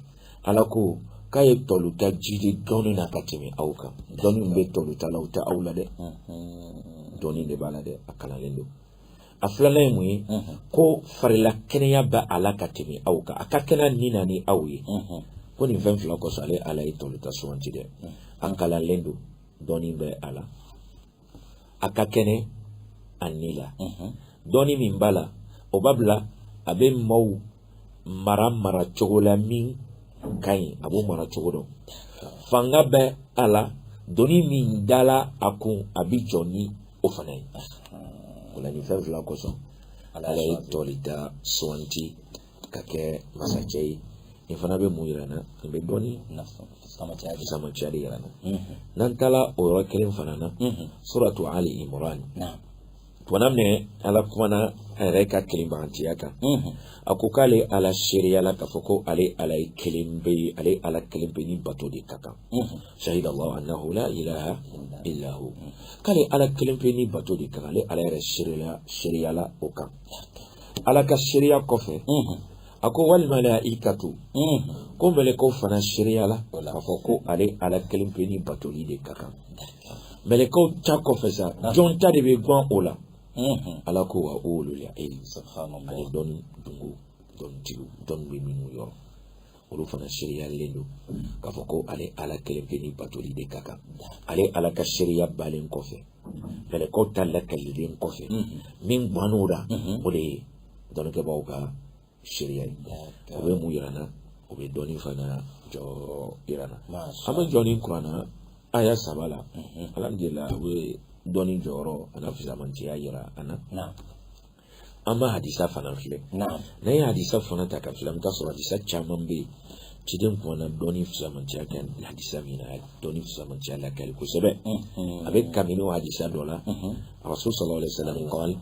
ala ko k'a ye tɔluta jidi dɔnni na ka tɛmɛ aw kan dɔnni bɛ tɔluta la o tɛ aw la dɛ dɔnni de b'a la dɛ a kalanlen don a filanan ye mun ye ko farila kɛnɛya bɛ a la ka tɛmɛ aw kan a ka kɛnɛ a ni na ni aw ye ko nin fɛn fila kosɔn ale ala ye tɔluta suganti dɛ a kalanlen don dɔnni bɛ a la a ka kɛnɛ a ni la dɔnni min b'a la o b'a bila a bɛ maaw mara mara cogo la min ka ɲi a b'o mara cogo dɔn fanga bɛ a la doni min dala a kun a bɛ jɔ ni o fana ye o la nin fɛn fila kosɔn ala ye tɔluta suganti ka kɛ masacɛ ye nin fana bɛ mun yira an na nin bɛ dɔnni fisamantiya de yira an na n'an taara o yɔrɔ kelen fana na suratu ali imran Tuma min ala kumana a yɛrɛ ka kelenbagantiya kan a ko k'ale ala seereyala k'a fɔ ko ale ala ye kelenpe ye ale ala kelenpe ni bato de ka kan shahida allahu annahu la ilaha illa hu k'ale ala kelenpe ni bato de ka kan ale ala yɛrɛ seereyala o kan ala ka seereya kɔfɛ a ko wal malaikatu ko mɛlɛkɛw fana seereyala k'a fɔ ko ale ala kelen pe ni batoli de ka kan mɛlɛkɛw ta kɔfɛ sa jɔn ta de bɛ gwan o la ala ko wa ulul ilmi ani dɔnni dungo dɔnnitigiw dɔnni bɛ minnu yɔrɔ olu fana seereyalen don k'a fɔ ko ale ala kelen pe ni batoli de ka kan ale ala ka seereya balen kɔfɛ mɛlɛkɛw ta lakalilen kɔfɛ min gwan'o la o de ye dɔnnikɛbaaw ka seereya ye o bɛ mun yira n na o bɛ dɔnni fana jɔ yira n na an bɛ jɔ nin kuranna aya saba la alhamdulillah o bɛ dɔnni jɔyɔrɔ a n'a fisamantiya yira an na an b'a hadisa fana filɛ n'an ye hadisa fana ta ka filɛ an bɛ taa sɔrɔ hadisa caman bɛ yen ciden kumana dɔnni fisamantiya kan hadisa min na a ye dɔnni fisamantiya lakali kosɛbɛ a bɛ kabini o hadisa dɔ la a rasul sallallahu alaihi wa sallam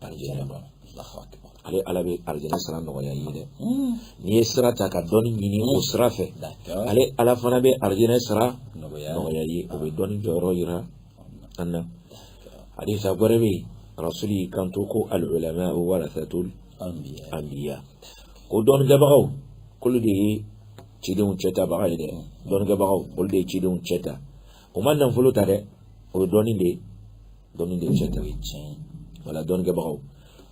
alijana ma ale ala bɛ alijana sira nɔgɔya ye dɛ n'i ye sira ta ka dɔnni ɲini o sira fɛ ale ala fana bɛ alijana sira nɔgɔya ye o bɛ dɔnni jɔyɔrɔ yira an na hadisa wɛrɛ bɛ yen rasuli y'i kanto ko alulama warasatul anbiya ko dɔnnikɛbagaw k'olu de ye cidenw cɛtabaga ye dɛ dɔnnikɛbagaw olu de ye cidenw cɛ ta o ma nafolo ta dɛ o ye dɔnni de ye dɔnni de ye cɛ ta ye tiɲɛ ye o la dɔnnikɛbagaw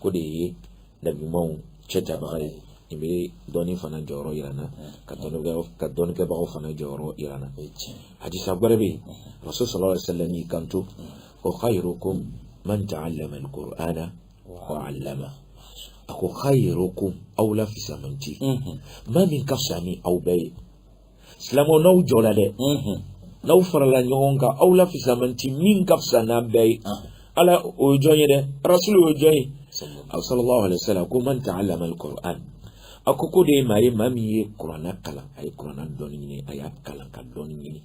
k'o de ye nabiɲumaw cɛtabaga ye nin bɛ dɔnni fana jɔyɔrɔ yira n na ka dɔnnikɛ ka dɔnnikɛbagaw fana jɔyɔrɔ yira n na hadisa wɛrɛ bɛ yen rasul sallallahu alaihi wasallam y'i kanto ko khayrukum man ta'allama al-qur'ana wa 'allama a ko khayrukum aw la fisamanti maa min ka fisa ni aw bɛɛ ye silamɛw n'aw jɔra dɛ n'aw farala ɲɔgɔn kan aw la fisamanti min ka fisa n'an bɛɛ ye ala o ye jɔn ye dɛ rasulu o ye jɔn ye aw sallallahu alaihi wasallam ko man ta'allama al-Qur'an a ko k'o de ye maa ye maa min ye kuranna kalan a ye kuranna dɔnni ɲini a y'a kalan ka dɔnni ɲini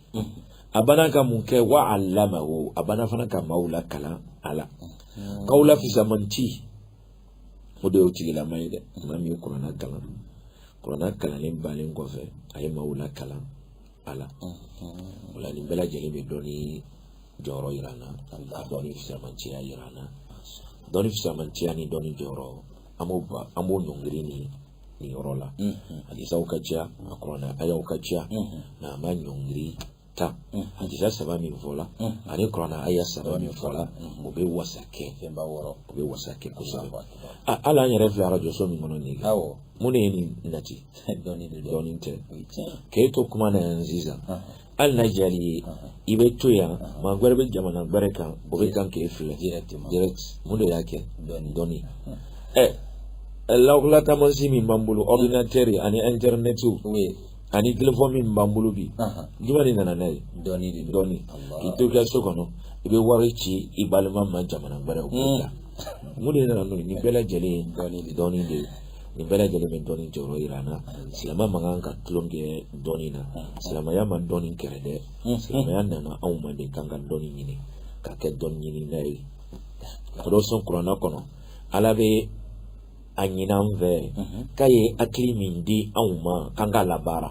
a bana ka mun kɛ wa 'allamahu a bana fana ka maaw lakalan a la k'aw la fisamanti o de y'o tigilama ye dɛ maa min ye kuranna kalan kuranna kalannen bannen kɔfɛ a ye maaw lakalan a la o la nin bɛɛ lajɛlen bɛ dɔnni jɔyɔrɔ yira an na ka dɔnni fisamantiya yira an na dɔnni fisamantiya ni dɔnni jɔyɔrɔ an b'o ba an b'o ɲɔngiri ni nin yɔrɔ la hadisaw ka ca a kuranna ayaw ka ca nka an b'a ɲɔngiri tan hadisa saba min fɔla ani kurana aya saba min fɔla o bɛ wasa kɛ fɛnba wɔɔrɔ o bɛ wasa kɛ kosɛbɛ ala an yɛrɛ filɛ arajo so min kɔnɔ nin ye mun de ye nin nati dɔnni tɛ k'e to kuma na yan sisan hali n'a diyar'i ye i bɛ to yan maa wɛrɛ bɛ jamana wɛrɛ kan o bɛ kan k'e filɛ mun de y'a kɛ dɔnni ɛ lawulataamansi min b'an bolo ordinateur ani internet ani téléphone min b'an bolo bi jumɛn de nana n'a ye dɔnni de dɔnni k'i to i ka so kɔnɔ i bɛ wari ci i balima ma jamana wɛrɛw la mun de nana n'o ye nin bɛɛ lajɛlen ye dɔnni de dɔnni de ye nin bɛɛ lajɛlen bɛ dɔnni jɔyɔrɔ jira an na silamɛ man kan ka tulon kɛ dɔnni na silamɛya ma dɔnni kɛlɛ dɛ silamɛya nana anw ma de k'an ka dɔnni ɲini ka kɛ dɔnni ɲinina ye o de kosɔn kuranna kɔnɔ ala bɛ a ɲini an fɛ k'a ye hakili min di anw ma k'an k'a labaara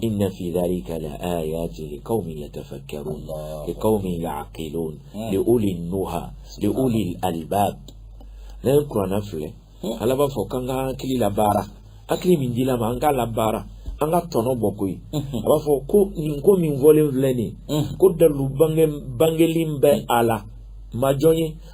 inna fi dhalika la ayatin liqawmin yatafakkarun liqawmin ya'qilun li ulin nuha li ulil albab n'e ye kuranɛ filɛ ala b'a fɔ k'an ka hakili labaara hakili min dila an ma an k'a labaara an ka tɔnɔ bɔ koyi a b'a fɔ ko nin ko min fɔlen filɛ nin ko dalu bange bangelen bɛ a la majɔ ye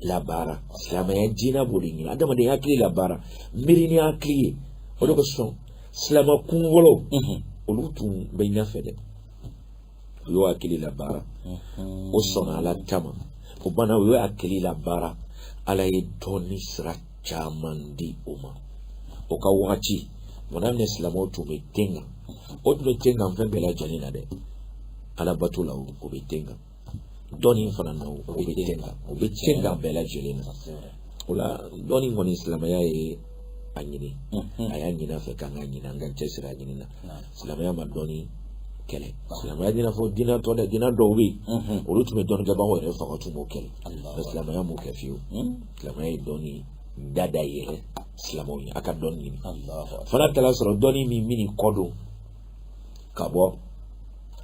labaara silamɛya diinɛ b'o de ɲini adamaden y'a hakili labaara miiri ni hakili ye o de kosɔn silamɛ kunfɔlɔ olu tun bɛ ɲɛfɛ dɛ u y'o hakili labaara o sɔnna ala ta ma o bana u y'o hakili labaara ala ye dɔnni sira caman di o ma o ka wagati mɔna minɛ silamɛw tun bɛ ten kan o tun bɛ ten kan fɛn bɛɛ lajɛlen na dɛ alabato la o bɛ ten kan dɔnni fana na o bɛ ten kan o bɛ ten kan bɛɛ lajɛlen na o la dɔnni kɔni silamɛya ye a ɲini mhm. a y'a ɲini an fɛ k'an k'a ɲini an ka cɛsiri a ɲini na silamɛya ma dɔnni kɛlɛ silamɛya t'i n'a fɔ dina tɔ dɛ dina dɔw bɛ yen mhm. olu tun bɛ dɔnni kɛbagaw yɛrɛ faga tun b'o kɛlɛ mais silamɛya m'o kɛ fiyewu mhm. silamɛya ye dɔnni da dayɛlɛ silamɛw ye a ka dɔnni ɲini fɔ n'a taar'a sɔrɔ dɔnni min b'i kɔ don ka bɔ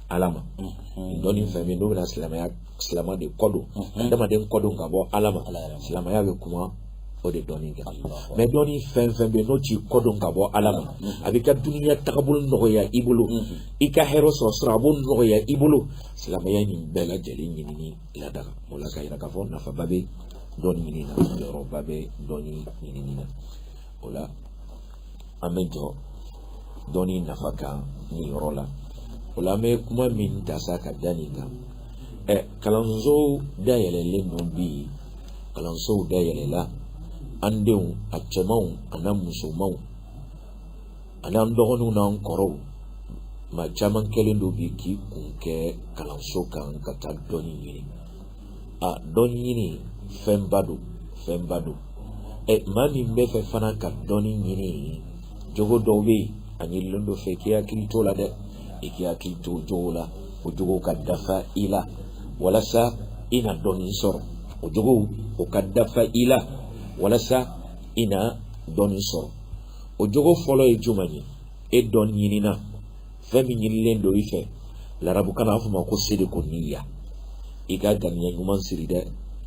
ala ma mhm. dɔnni fɛn min n'o bɛna silamɛya silamɛ de kɔ don mhm. adamaden kɔ don ka bɔ ala ma silamɛya bɛ kuma o de dɔnni kan mais dɔnni fɛn fɛn bɛ n'o t'i kɔ don ka bɔ ala ma mhm. a b'i ka duniya tagabolo nɔgɔya i bolo i ka hɛrɛ sɔrɔ sira a b'o nɔgɔya i bolo silamɛya nin bɛɛ lajɛlen ɲinini ladaga o la ka yira k'a fɔ nafaba bɛ dɔnni ɲinini na jɔyɔrɔba bɛ dɔnni ɲinini na o la an bɛ jɔ dɔnni nafa kan nin yɔrɔ la o la an bɛ kuma min ta sa ka da nin kan ɛ kalanso dayɛlɛlen don bi kalansow dayɛlɛla an denw a cɛmanw an'a musomanw an'an dɔgɔninw n'an kɔrɔw maa caman kɛlen don bi k'i kun kɛ kalanso kan ka taa dɔnni ɲini a dɔnni ɲini fɛnba don fɛnba don ɛ maa min bɛ fɛ fana ka dɔnni ɲini jogo dɔw bɛ yen a ɲinilen don o fɛ i k'i hakili t'o la dɛ i k'i hakili to o jogo la o jogo ka dafa i la walasa i na dɔnni sɔrɔ o jogo o ka dafa i la walasa i na dɔnni sɔrɔ o jogo fɔlɔ ye jumɛn ye e dɔnni ɲinina fɛn min ɲinilen don i fɛ larabukan na a fɔ ma ko sidqu niyya i ka ganiya ɲuman siri dɛ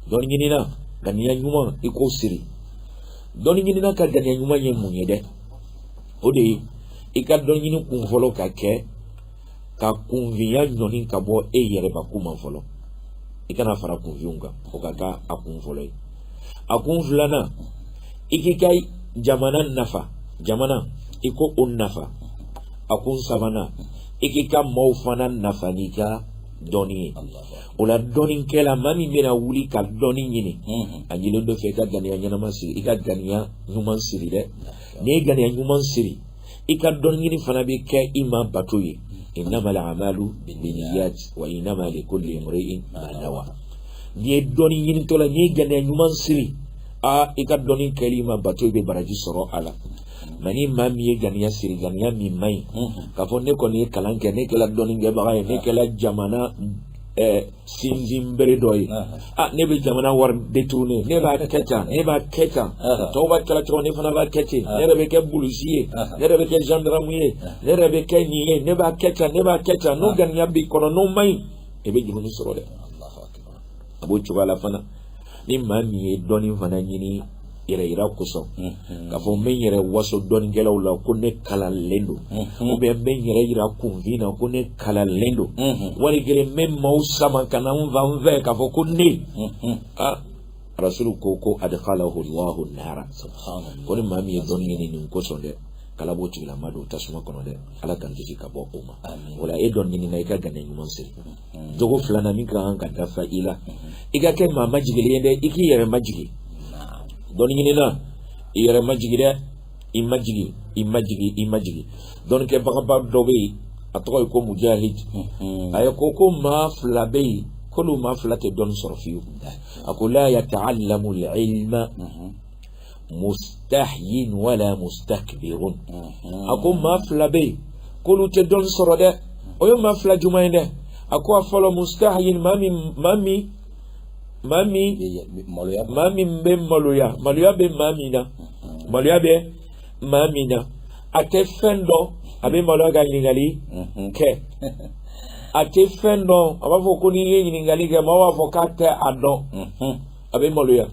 dɔnni ɲinina ganiya ɲuman i k'o siri dɔnni ɲinina ka ganiya ɲuman ye mun ye dɛ o de ye i ka dɔnni ɲini kun fɔlɔ ka kɛ ka kunfinya ɲɔni ka bɔ e yɛrɛbakun ma fɔlɔ i kana fara kunfinw kan o ka kɛ a kun fɔlɔ ye a kun filanan i k'i ka jamana nafa jamana i k'o nafa a kun sabanan i k'i ka maaw fana nafa n'i ka dɔnni ye o la dɔnnikɛla maa min bɛna wuli ka dɔnni ɲini a ɲinilen don o fɛ i ka ganiya ɲɛnama siri i ka ganiya ɲuman siri dɛ n'i ye ganiya ɲuman siri i ka dɔnni ɲini fana bɛ kɛ i ma bato ye innamal a'malu binniyat wa innama likulli imri'in ma nawa n'i ye dɔnni ɲinitɔla n'i ye ganiya ɲuman siri aa i ka dɔɔni kɛli ma bato i bɛ baraji sɔrɔ a la mais ni maa min ye ganiya siri ganiya min man ɲi k'a fɔ ne kɔni ye kalan kɛ ne kɛla dɔnnikɛbaga ye ne kɛla jamana sinsin bere dɔ ye a ne bɛ jamana wari détourner ne b'a kɛ tan ne b'a kɛ tan tɔw b'a kɛla cogo ne fana b'a kɛ ten ne yɛrɛ bɛ kɛ polisi ye ne yɛrɛ bɛ kɛ zandaramu ye ne yɛrɛ bɛ kɛ nin ye ne b'a kɛ tan ne b'a kɛ tan n'o ganiya b'i kɔnɔ n'o man ɲi e bɛ jurumu sɔrɔ dɛ a b'o cogoya la fana ni maa min ye dɔnni fana ɲini yɛrɛ yira kosɔn k'a fɔ n bɛ n yɛrɛ waso dɔnnikɛlaw la ko ne kalanlen don ou bien n bɛ n yɛrɛ yira kunfin na ko ne kalanlen don wali kelen n bɛ maaw sama ka na n fan fɛ k'a fɔ ko ne ah rasulu ko ko adkhalahu Allahu nara ko ni maa min ye dɔnni ɲini nin kosɔn dɛ k'ala b'o tigilama don tasuma kɔnɔ dɛ ala k'an kisi ka bɔ o ma o la e dɔnni ɲinina i ka ganiya ɲuman siri jogo filanan min ka kan ka dafa i la i ka kɛ maa majigilen ye dɛ i k'i yɛrɛ majigin dɔnni ɲinina i yɛrɛ majigin dɛ i majigin i majigin i majigin dɔnnikɛbagaba dɔ bɛ yen a tɔgɔ ye ko mujahid a ye ko ko maa fila bɛ yen k'olu maa fila tɛ dɔnni sɔrɔ fiyewu a ko la yata'allamu al-ilma mustahin wala mustakbirun a ko maa fila bɛ yen k'olu tɛ dɔnni sɔrɔ dɛ o ye maa fila juma ye dɛ a ko a fɔlɔ mustahin maa min maa min maa min maa min bɛ maloya maloya bɛ maa min na maloya bɛ maa min na a tɛ fɛn dɔn a bɛ maloya ka ɲininkali kɛ a tɛ fɛn dɔn a b'a fɔ ko n'i ye ɲininkali kɛ maaw b'a fɔ k'a tɛ a dɔn. a bɛ maloya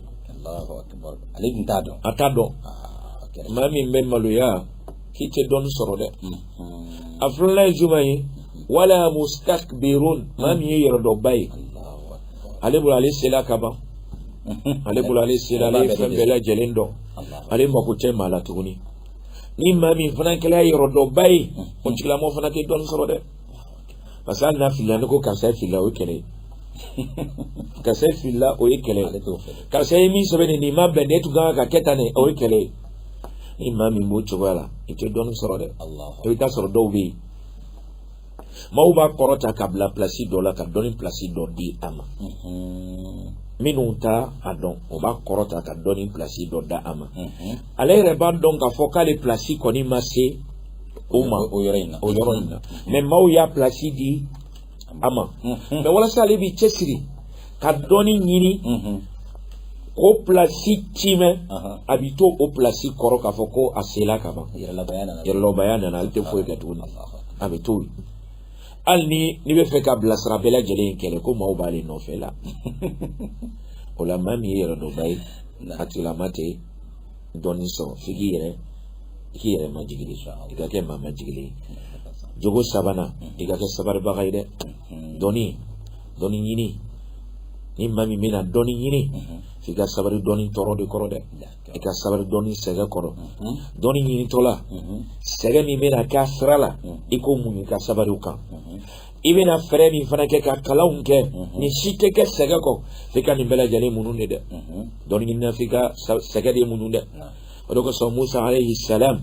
ale tun t'a dɔn a t'a dɔn maa min bɛ maloya k'i tɛ dɔnni sɔrɔ dɛ a filanan ye juma ye wala mustakbirun maa min ye yɛrɛdɔnba ye ale bolo ale sela ka ban ale bolo ale sela ale ye fɛn bɛɛ lajɛlen dɔn ale mako tɛ maa la tuguni ni maa min fana kɛra yɛrɛdɔnba ye o tigilamɔgɔ fana tɛ dɔnni sɔrɔ dɛ parce que hali n'a filila n'i ko karisa filila o ye kɛlɛ ye karisa filila o ye kɛlɛ ye karisa ye min sɛbɛn nin nin ma bɛn nin tun kan ka kɛ tan ne o ye kɛlɛ ye ni maa min b'o cogoya la i tɛ dɔnni sɔrɔ dɛ i bɛ t'a sɔrɔ dɔw bɛ yen maaw b'a kɔrɔta k'a bila pilasi dɔ la ka dɔnni pilasi dɔ di a ma minnu t'a dɔn o b'a kɔrɔta ka dɔnni pilasi dɔ d'a ma ale yɛrɛ b'a dɔn k'a fɔ k'ale pilasi kɔni ma se o ma o yɔrɔ in na o yɔrɔ in na mais maaw y'a pilasi di a ma mais walasa ale b'i cɛsiri ka dɔnni ɲini k'o pilasi timɛ a b'i to o pilasi kɔrɔ k'a fɔ ko a sela ka ban yɛrɛdɔnbaya nana ale tɛ foyi kɛ tuguni a bɛ to yen hali ni n'i bɛ fɛ k'a bilasira bɛɛ lajɛlen in kɛlɛ ko maaw b'ale nɔfɛ la o la maa min ye yɛrɛdɔnba ye a tigilama tɛ dɔnni sɔrɔ f'i k'i yɛrɛ i k'i yɛrɛ majigi de i ka kɛ maa majigilen ye jogo sabanan i ka kɛ sabaribaga ye dɛ dɔnni dɔnni ɲini ni maa min bɛna dɔnni ɲini f'i ka sabari dɔnni tɔɔrɔ de kɔrɔ dɛ i ka sabari dɔnni sɛgɛ kɔrɔ dɔnni ɲinitɔla sɛgɛ min bɛna k'a sira la i k'o muɲu i ka sabari o kan i bɛna fɛɛrɛ min fana kɛ ka kalanw kɛ mhm. nin si tɛ kɛ sɛgɛ kɔ f'i ka nin bɛɛ lajɛlen muɲu de dɛ mhm. dɔnni ɲinina f'i ka sɛgɛ de muɲu dɛ o de kosɔn musa alayhi salam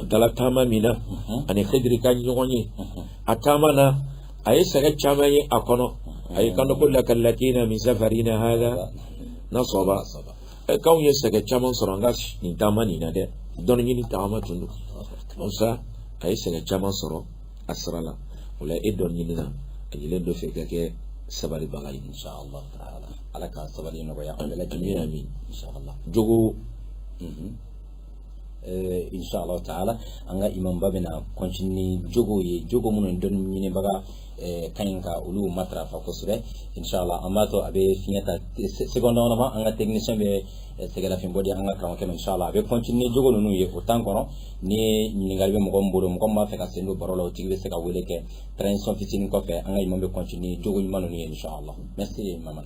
a taara taama min na mhm. ani hidiri ka ɲɔgɔn ye a taama na a ye sɛgɛ caman ye a kɔnɔ a y'i kanto ko lakad lakina min safarina hada nasaba k'anw ye sɛgɛ caman sɔrɔ an ka nin taama nin na dɛ dɔnni ɲini taama tun don musa a ye sɛgɛ caman sɔrɔ a sira la o la e dɔnniɲinina a yelen dɔ fɛ ka kɛ sabalibaga ye insha Allah taala ala ka sabali nɔgɔya an bɛɛ lajɛlen amin insha Allah jogo mhm. eh, insha Allah taala an ka imamba bɛna continuer jogo ye jogo minnu dɔnni ɲinibaga Eh, ka ɲi ka olu matarafa kosɛbɛ inshallah an b'a to a bɛ fiɲɛ ta seconde dama dama an ka technicien bɛ eh, sɛgɛnlafiɲɛbɔ di an ka karamɔgɔkɛ ma inshallah a bɛ continuer jogo ninnu ye o temps kɔnɔ ni ɲininkali bɛ mɔgɔ min bolo mɔgɔ min b'a fɛ ka sen don baro la o tigi bɛ se ka wele kɛ transition fitinin kɔfɛ an ka imam bɛ continuer jogo ɲuman ninnu ye inshallah merci maman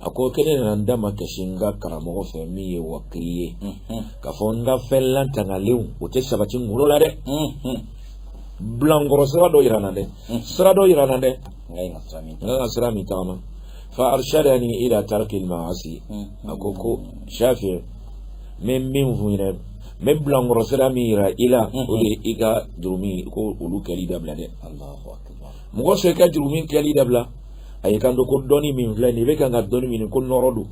a ko ko ne nana n da makasi n ka karamɔgɔ fɛ min ye Waki'i ye k'a fɔ n ka fɛn latangalenw o tɛ sabati n kunkolo la dɛ bilankɔrɔ sira dɔ yira n na dɛ sira dɔ yira n na dɛ n ka kan ka sira min tagama fa arshadani ila tarki al-ma'asi a ko ko Shafi'i n bɛ min f'i ɲɛna n bɛ bilankɔrɔ sira min yira i la o de ye i ka jurumu ko olu kɛli dabila dɛ mɔgɔ sɔn i ka jurumu kɛli dabila a y'i kanto ko dɔnni min filɛ nin ye i bɛ kan ka dɔnni min ko nɔrɔ don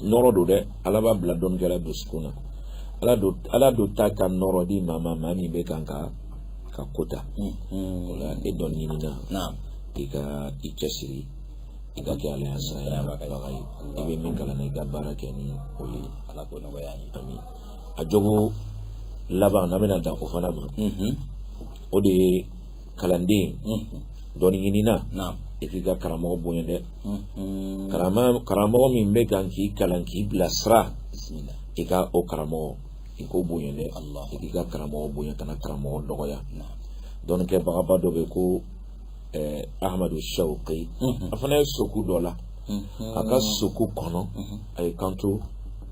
nɔrɔ don dɛ ala b'a bila dɔnnikɛla dusukun na ala dun ala dun t'a ka nɔrɔ di maa ma maa min bɛ kan ka ka ko ta o la e dɔnniɲinina i ka i cɛsiri i ka kɛ ala saya baga ye i bɛ min kalan na i ka baara kɛ ni o ye ala k'o nɔgɔya an ye amin a jogo laban an bɛna dan o fana ma o de ye kalanden dɔnniɲinina i k'i ka karamɔgɔ bonya dɛ karamɔgɔ min bɛ kan k'i kalan k'i bilasira i ka o karamɔgɔ i k'o bonya dɛ i k'i ka karamɔgɔ bonya kana karamɔgɔ dɔgɔya dɔnnikɛbagaba dɔ bɛ ko Ahmadu Shawuki a fana ye soku dɔ la a ka soku kɔnɔ a y'i kanto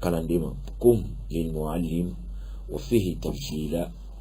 kalanden ma qum lil-mu'allimi waffihi tabjila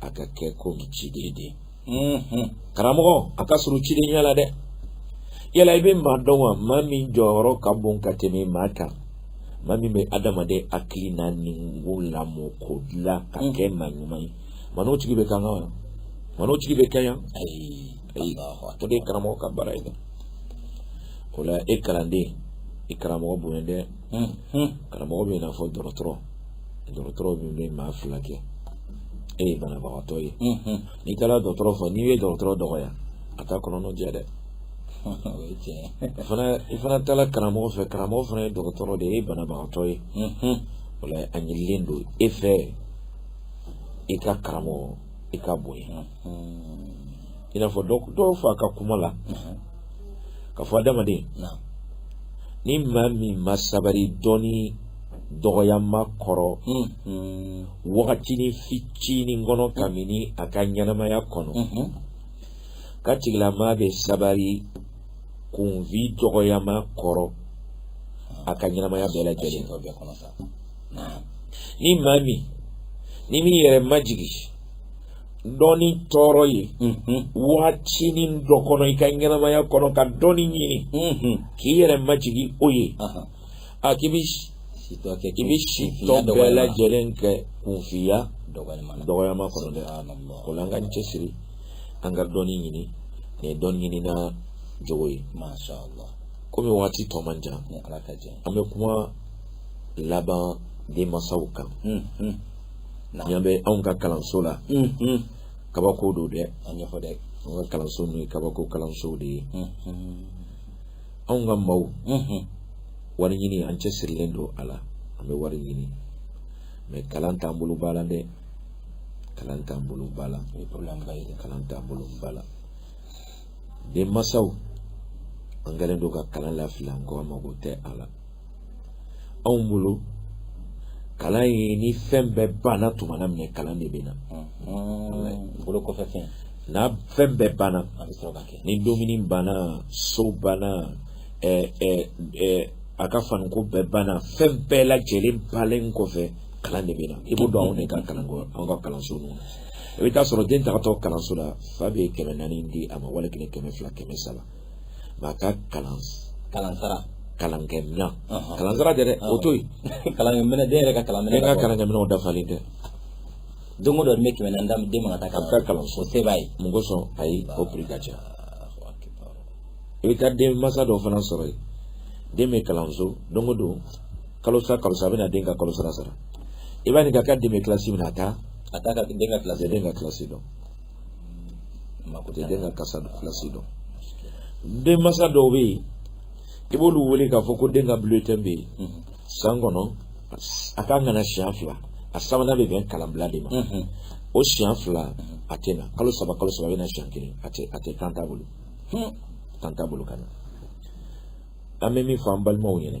a ka kɛ ko ciden de ye mm-hmm. karamɔgɔ a ka surun cidenya la dɛ yala i bɛ maa dɔn wa maa min jɔyɔrɔ ka bon ka tɛmɛ maa kan maa min bɛ adamaden hakili n'a ni k'o lamɔ k'o dilan ka mm. kɛ maa ɲuman ye maa n'o tigi bɛ kan kan wa maa n'o tigi bɛ kanya ayi ayi o de ye karamɔgɔ ka baara ye dɛ o la e kalanden i karamɔgɔ bonya dɛ mm-hmm. karamɔgɔ bɛ i n'a fɔ dɔgɔtɔrɔ dɔgɔtɔrɔ min bɛ maa furakɛ e ye banabagatɔ ye n'i taara dɔgɔtɔrɔ fɛ n'i ye dɔgɔtɔrɔ dɔgɔya a t'a kɔnɔnɔ jɛ dɛ fana i fana taara karamɔgɔ fɛ karamɔgɔ fana ye dɔgɔtɔrɔ de ye e ye banabagatɔ ye o la a ɲinilen don e fɛ i ka karamɔgɔ i k'a bonya i n'a fɔ dɔ y'a fɔ a ka kuma la k'a fɔ adamaden ni maa min ma sabari dɔnni dɔgɔyama kɔrɔ wagatinin fitinin kɔnɔ kabini a ka ɲɛnamaya kɔnɔ k'a tigilama bɛ sabari kunfin dɔgɔyama kɔrɔ a ka ɲɛnamaya bɛɛ lajɛlen ni maa min n'i m'i yɛrɛ majigin dɔnni tɔɔrɔ ye waatinin dɔ kɔnɔ i ka ɲɛnamaya kɔnɔ ka dɔnni ɲini k'i yɛrɛ majigin o ye a k'i b'i i b'i si tɔ bɛɛ lajɛlen kɛ kunfinya dɔgɔyama kɔnɔ dɛ o la an k'an cɛsiri an ka dɔnni ɲini nin ye dɔnni ɲinina jogo ye komi waati tɔ man jan an bɛ kuma laban denmansaw kan ɲɛ bɛ anw ka kalanso la kabako don dɛ an y'a fɔ dɛ an ka kalanso n'o ye kabako kalanso de ye anw ka maaw wari ɲini an cɛsirilen don a la an bɛ wari ɲini mɛ kalan t'an bolo ba la dɛ kalan t'an bolo ba la kalan t'an bolo ba la denmansaw an kɛlen don ka kalan lafili an ko an mago tɛ a la anw bolo kalan ye ni fɛn bɛɛ banna tuma na minɛ kalan de bɛ na bolo kɔfɛ fɛn n'a fɛn bɛɛ banna a bɛ sɔrɔ ka kɛ ni dumuni banna so banna ɛɛ ɛɛ ɛɛ a ka faniko bɛɛ banna fɛn bɛɛ lajɛlen bannen kɔfɛ kalan de bɛ na i b'o dɔn anw de ka kalanko anw ka kalanso ninnu na i bɛ taa sɔrɔ den tagatɔ kalanso la fa bɛ kɛmɛ naani di a ma wali kelen kɛmɛ fila kɛmɛ saba nka a ka kalan kalansara kalankɛminɛn Ɔhɔn. kalansara tɛ dɛ o to yen kalankɛminɛn den yɛrɛ ka kalankɛminɛn den ka kalankɛminɛnw dafalen tɛ don o don nin bɛ kɛmɛ naani d'a ma den ma ka taa a bɛ taa kalanso o se b'a ye mun kosɔn ayi o piri ka ca i bɛ taa denmansa dɔw fana sɔrɔ yen den bɛ kalanso don o don kalo sa kalo sa a bɛ na den ka kalo sara sara i b'a ɲininka k'a den bɛ kilasi min na a t'a a t'a ka den ka a kilasi tɛ den ka kilasi dɔn mako tɛ den ka kilasi dɔn denmansa dɔw bɛ yen i b'olu wele k'a fɔ ko den ka bulletin bɛ yen mhm. san kɔnɔ a ka kan ka na siɲɛ fila a sabanan bɛ bɛn kalanbila de ma mhm. o siɲɛ fila mhm. a tɛ na kalo saba kalo saba a bɛ na siɲɛ kelen a tɛ a tɛ temps t'a bolo temps t'a bolo ka na an bɛ min fɔ an balimaw ɲɛna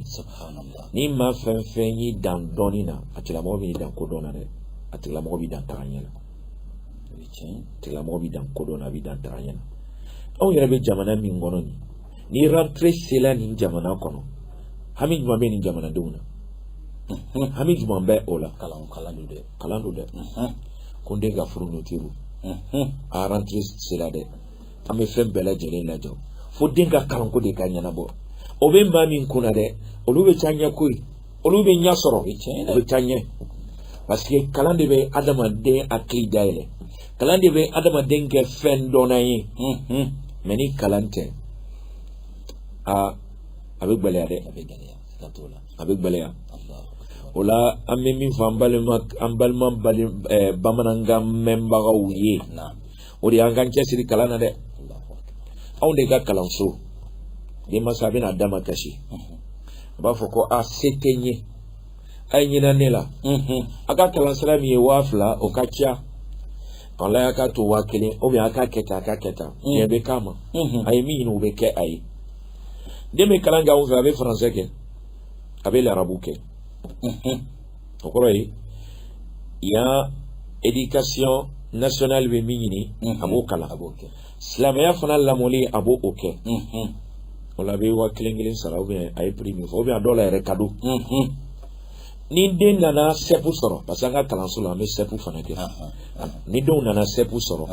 ni maa fɛn fɛn y'i dan dɔɔni na a tigilamɔgɔ b'i dan kodɔn na dɛ a tigilamɔgɔ b'i dan tagaɲɛ na tigilamɔgɔ b'i dan kodɔn na a b'i dan tagaɲɛ na anw yɛrɛ bɛ jamana min kɔnɔ nin ni rentrée sela nin jamana kɔnɔ hami jumɛn bɛ nin jamanadenw na hami jumɛn bɛ o la kalan kalan don dɛ kalan don dɛ ko n den ka fourniture a rentrée sela dɛ an bɛ fɛn bɛɛ lajɛlen lajɔ fo den ka kalanko de ka ɲɛnabɔ o bɛ maa min kun na dɛ olu bɛ taa ɲɛ koyi olu bɛ ɲɛ sɔrɔ u bɛ taa ɲɛ parce que kalan de bɛ adamaden hakili dayɛlɛ kalan de bɛ adamaden kɛ fɛn dɔnna ye mais ni kalan tɛ aa a bɛ gɛlɛya dɛ a bɛ gɛlɛya a bɛ gɛlɛya o la an bɛ min fɔ an balima an balima bamanankan mɛnbagaw ye o de y'an k'an cɛsiri kalan na dɛ anw de ka kalanso denmansa a bɛ na a damakasi a b'a fɔ ko a se tɛ n ye a ye hinɛ ne la a ka kalansara min ye waa fila o ka ca walayi a k'a to waa kelen ou bien a k'a kɛ tan a k'a kɛ tan diɲɛ bɛ k'a ma a ye min ɲini o bɛ kɛ a ye den bɛ kalan kɛ anw fɛ a bɛ français kɛ a bɛ larabu kɛ o kɔrɔ ye yan éducation nationale bɛ min ɲini a b'o kalan a b'o kɛ silamɛya fana lamɔli a b'o kɛ o la a bɛ waa kelen kelen sara ou bien a ye prix min fɔ ou bien a dɔw la yɛrɛ cadeau ni den nana sɛpu sɔrɔ parce que an ka kalanso la an bɛ sɛpu fana kɛ ni denw nana sɛpu sɔrɔ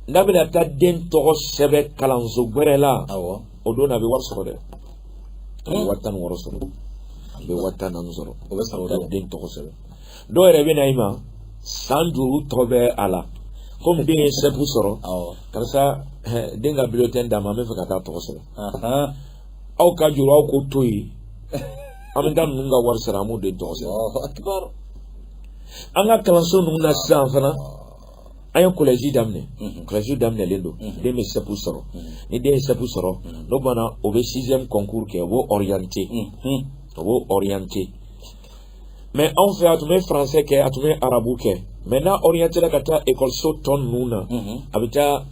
n'a bɛna taa den tɔgɔ sɛbɛn kalanso gwɛrɛ la o don na a bɛ wari sɔrɔ dɛ a bɛ waa tan ni wɔɔrɔ sɔrɔ a bɛ waa tan ni naani sɔrɔ o bɛ sɔrɔ taa den tɔgɔ sɛbɛn dɔw yɛrɛ bɛ na i ma san duuru tɔ bɛ a la komi den ye sɛpu sɔrɔ karisa den ka bulletin d'an ma an b'a fɛ ka taa tɔgɔ sɛbɛn aw ka juru aw k'o to yen an bɛ taa ninnu ka wari sara an b'o den tɔgɔ sɛbɛn an ka kalanso ninnu na sisan fana. an ye kɔlɛji daminɛ kɔlɛji daminɛlen don den bɛ sɛpu sɔrɔ ni den ye sɛpu sɔrɔ n'o banna o bɛ sixième concours kɛ o b'o orienté o b'o orienté mais anw fɛ a tun bɛ français kɛ a tun bɛ arabu kɛ mais n'a orienté la ka taa ekɔliso tɔ ninnu na a bɛ taa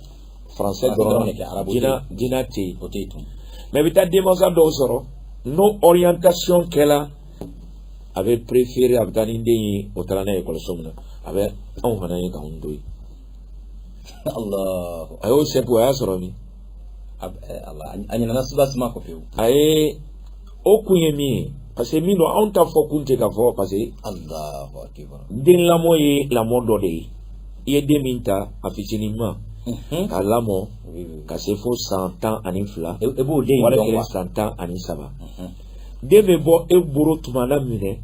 français dɔrɔn diina diina tɛ yen o tɛ yen tun mais i bɛ taa denmansa dɔw sɔrɔ n'o orientation kɛla a bɛ préféré a bɛ taa ni den ye o taara n'a ye ekɔliso min na a bɛ anw fana ye k'anw to yen a y'o sɛpu a y'a sɔrɔ min a ɲinana suba suma kɔ pewu a ye o kun ye min ye parce que min don anw ta fɔ kun tɛ ka fɔ parce que den lamɔ ye lamɔ dɔ de ye i ye den min ta a fitinin ma Mhm. k'a lamɔ ka se fo san tan ani fila e, e b'o den in dɔn wa san tan ani saba mhm. den bɛ bɔ e bolo tuma na minɛ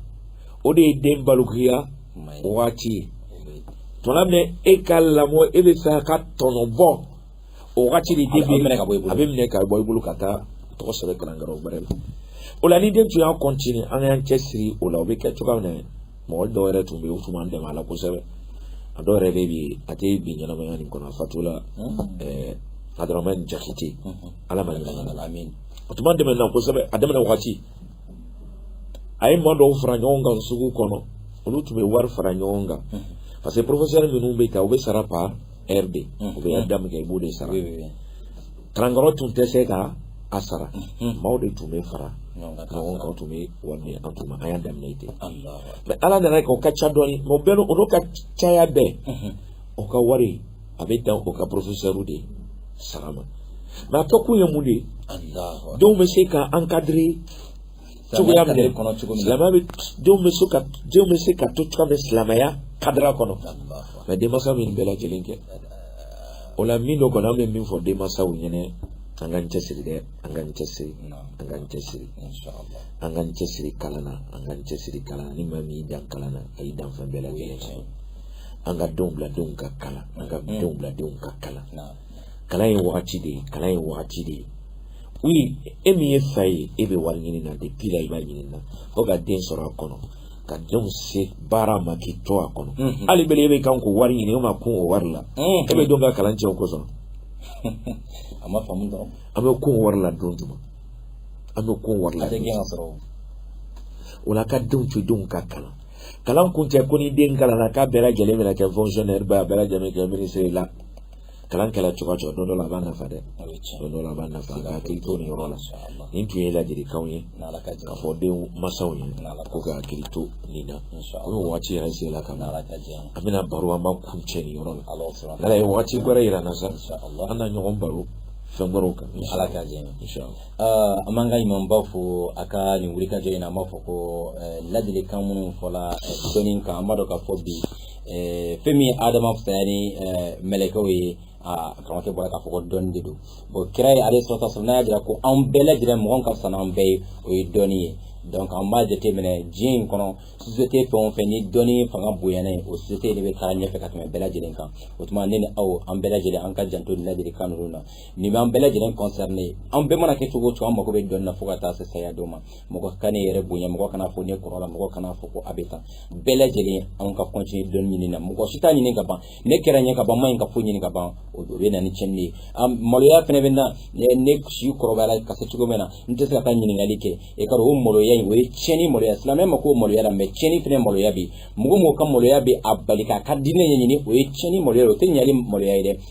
o de ye den balikuya waati ye tuma min e ka lamɔ e b'a fɛ k'a tɔnɔ bɔ o waati de den bɛ minɛ ka bɔ i bolo a bɛ minɛ ka bɔ i bolo ka t'a tɔgɔ sɛbɛn kalanyɔrɔ wɛrɛ la o la ni den tun y'a continuer an y'an cɛsiri o la o bɛ kɛ cogoya min na mɔgɔ dɔw yɛrɛ tun bɛ yen u tun b'an dɛmɛ a la kosɛbɛ a dɔw yɛrɛ bɛ bi a tɛ bi ɲɛnamaya nin kɔnɔ a fatula Abdramane Jakite ala ma hinɛ a la amin o tun b'an dɛmɛ na kosɛbɛ a daminɛ waati a ye maa dɔw fara ɲɔgɔn kan sugu kɔnɔ olu tun bɛ wari fara ɲɔgɔn kan parce que professeur ninnu bɛ ta u bɛ sara par heure de u bɛ da min kɛ i b'o de sara karankɔrɔ tun tɛ se ka a sara maaw de tun bɛ fara ɲɔgɔn kan tun bɛ wari minɛ an tun ma an y'a daminɛ ten mais ala nana a kɛ o ka ca dɔɔni mais o bɛɛ n'o ka caya bɛɛ o ka wari a bɛ dan o ka professeurw de sara ma mais a kɛkun ye mun de ye denw bɛ se ka encadrer cogoya minɛ silamɛya bɛ denw bɛ se ka denw bɛ se ka to cogoya min silamɛya cadre kɔnɔ mais denmansa bɛ nin bɛɛ lajɛlen kɛ o la min don kɔni an bɛ min fɔ denmansaw ɲɛna an k'an cɛsiri dɛ an k'an cɛsiri an k'an cɛsiri an k'an cɛsiri kalan na an k'an cɛsiri kalan na ni maa min y'i dan kalan na a y'i dan fɛn bɛɛ lajɛlen na an ka denw bila denw ka kalan an ka denw bila denw ka kalan kalan ye wagati de ye kalan ye wagati de ye oui e min ye fa ye e bɛ wari ɲini na depuis la i b'a ɲini na fo ka den sɔrɔ a kɔnɔ ka denw se baara ma k'i to a kɔnɔ hali belen e bɛ kan k'o wari ɲini e ma kun o wari la e bɛ denw ka kalan tiɲɛ o kosɔn a ma faamu dɔrɔn an bɛ kun wari la don jumɛn an bɛ kun wari la a tɛ gɛn ka sɔrɔ o la ka denw to denw ka kalan kalan kun tɛ ko ni den kalanna k'a bɛɛ lajɛlen bɛna kɛ fonctionnaire ba a bɛɛ lajɛlen kɛ ministre la kalan kɛla cogo cogo don dɔ la a b'a nafa dɛ don dɔ la a b'a nafa ka hakili to nin yɔrɔ la nin tun ye ladilikanw ye k'a fɔ denmansaw ye ko ka hakili to nin na komi waati yɛrɛ sela ka ban an bɛna baro an b'a kuncɛ nin yɔrɔ la n'ala ye waati wɛrɛ yira an na sa an na ɲɔgɔn baro fɛn wɛrɛw kan ala ka jɛ Aa an b'an ka ɲumanbaw fo a ka nin wulikajɔ in na an b'a fɔ ko ladilikan minnu fɔla dɔnni kan an b'a dɔn k'a fɔ bi fɛn min ye Adama fisaya ni mɛlɛkɛw ye aa karamɔgɔkɛ bɔra k'a fɔ ko dɔnni de don bon kira aleyhi salatu wa salam y'a jira ko an bɛɛ lajɛlen mɔgɔ min ka fisa n'an bɛɛ ye o ye dɔnni ye donc an b'a jateminɛ diɲɛ in kɔnɔ société fɛn o fɛn ni dɔnni fanga bonyana yen o société de bɛ taa ɲɛfɛ ka tɛmɛ bɛɛ lajɛlen kan o tuma ne ni aw an bɛɛ lajɛlen an ka janto nin ladilikan ninnu na nin b'an bɛɛ lajɛlen concerner an bɛɛ mana kɛ cogo o cogo an mago bɛ dɔnni na fo ka taa se saya don ma mɔgɔ kan'i yɛrɛ bonya mɔgɔ kana fɔ ne kɔrɔla mɔgɔ kana fɔ ko a bɛ tan bɛɛ lajɛlen anw ka continuer dɔnni ɲini na mɔgɔ si t'a ɲini ka ban ne kɛra ɲɛ ka ban ma ɲi ka foyi ɲini ka ban o bɛ na ni cɛnni ye maloya fana bɛ na ne si kɔrɔbayara ka se cogo min na n tɛ se ka taa ɲininkali kɛ e ka o maloya in o ye cɛnni maloya silamɛ mako maloya la mais cɛnni fana maloya bɛ mɔgɔ mɔgɔ ka maloya bɛ a bali k'a ka diinɛ ɲɛɲini o ye cɛnni maloya o tɛ ɲali maloya ye dɛ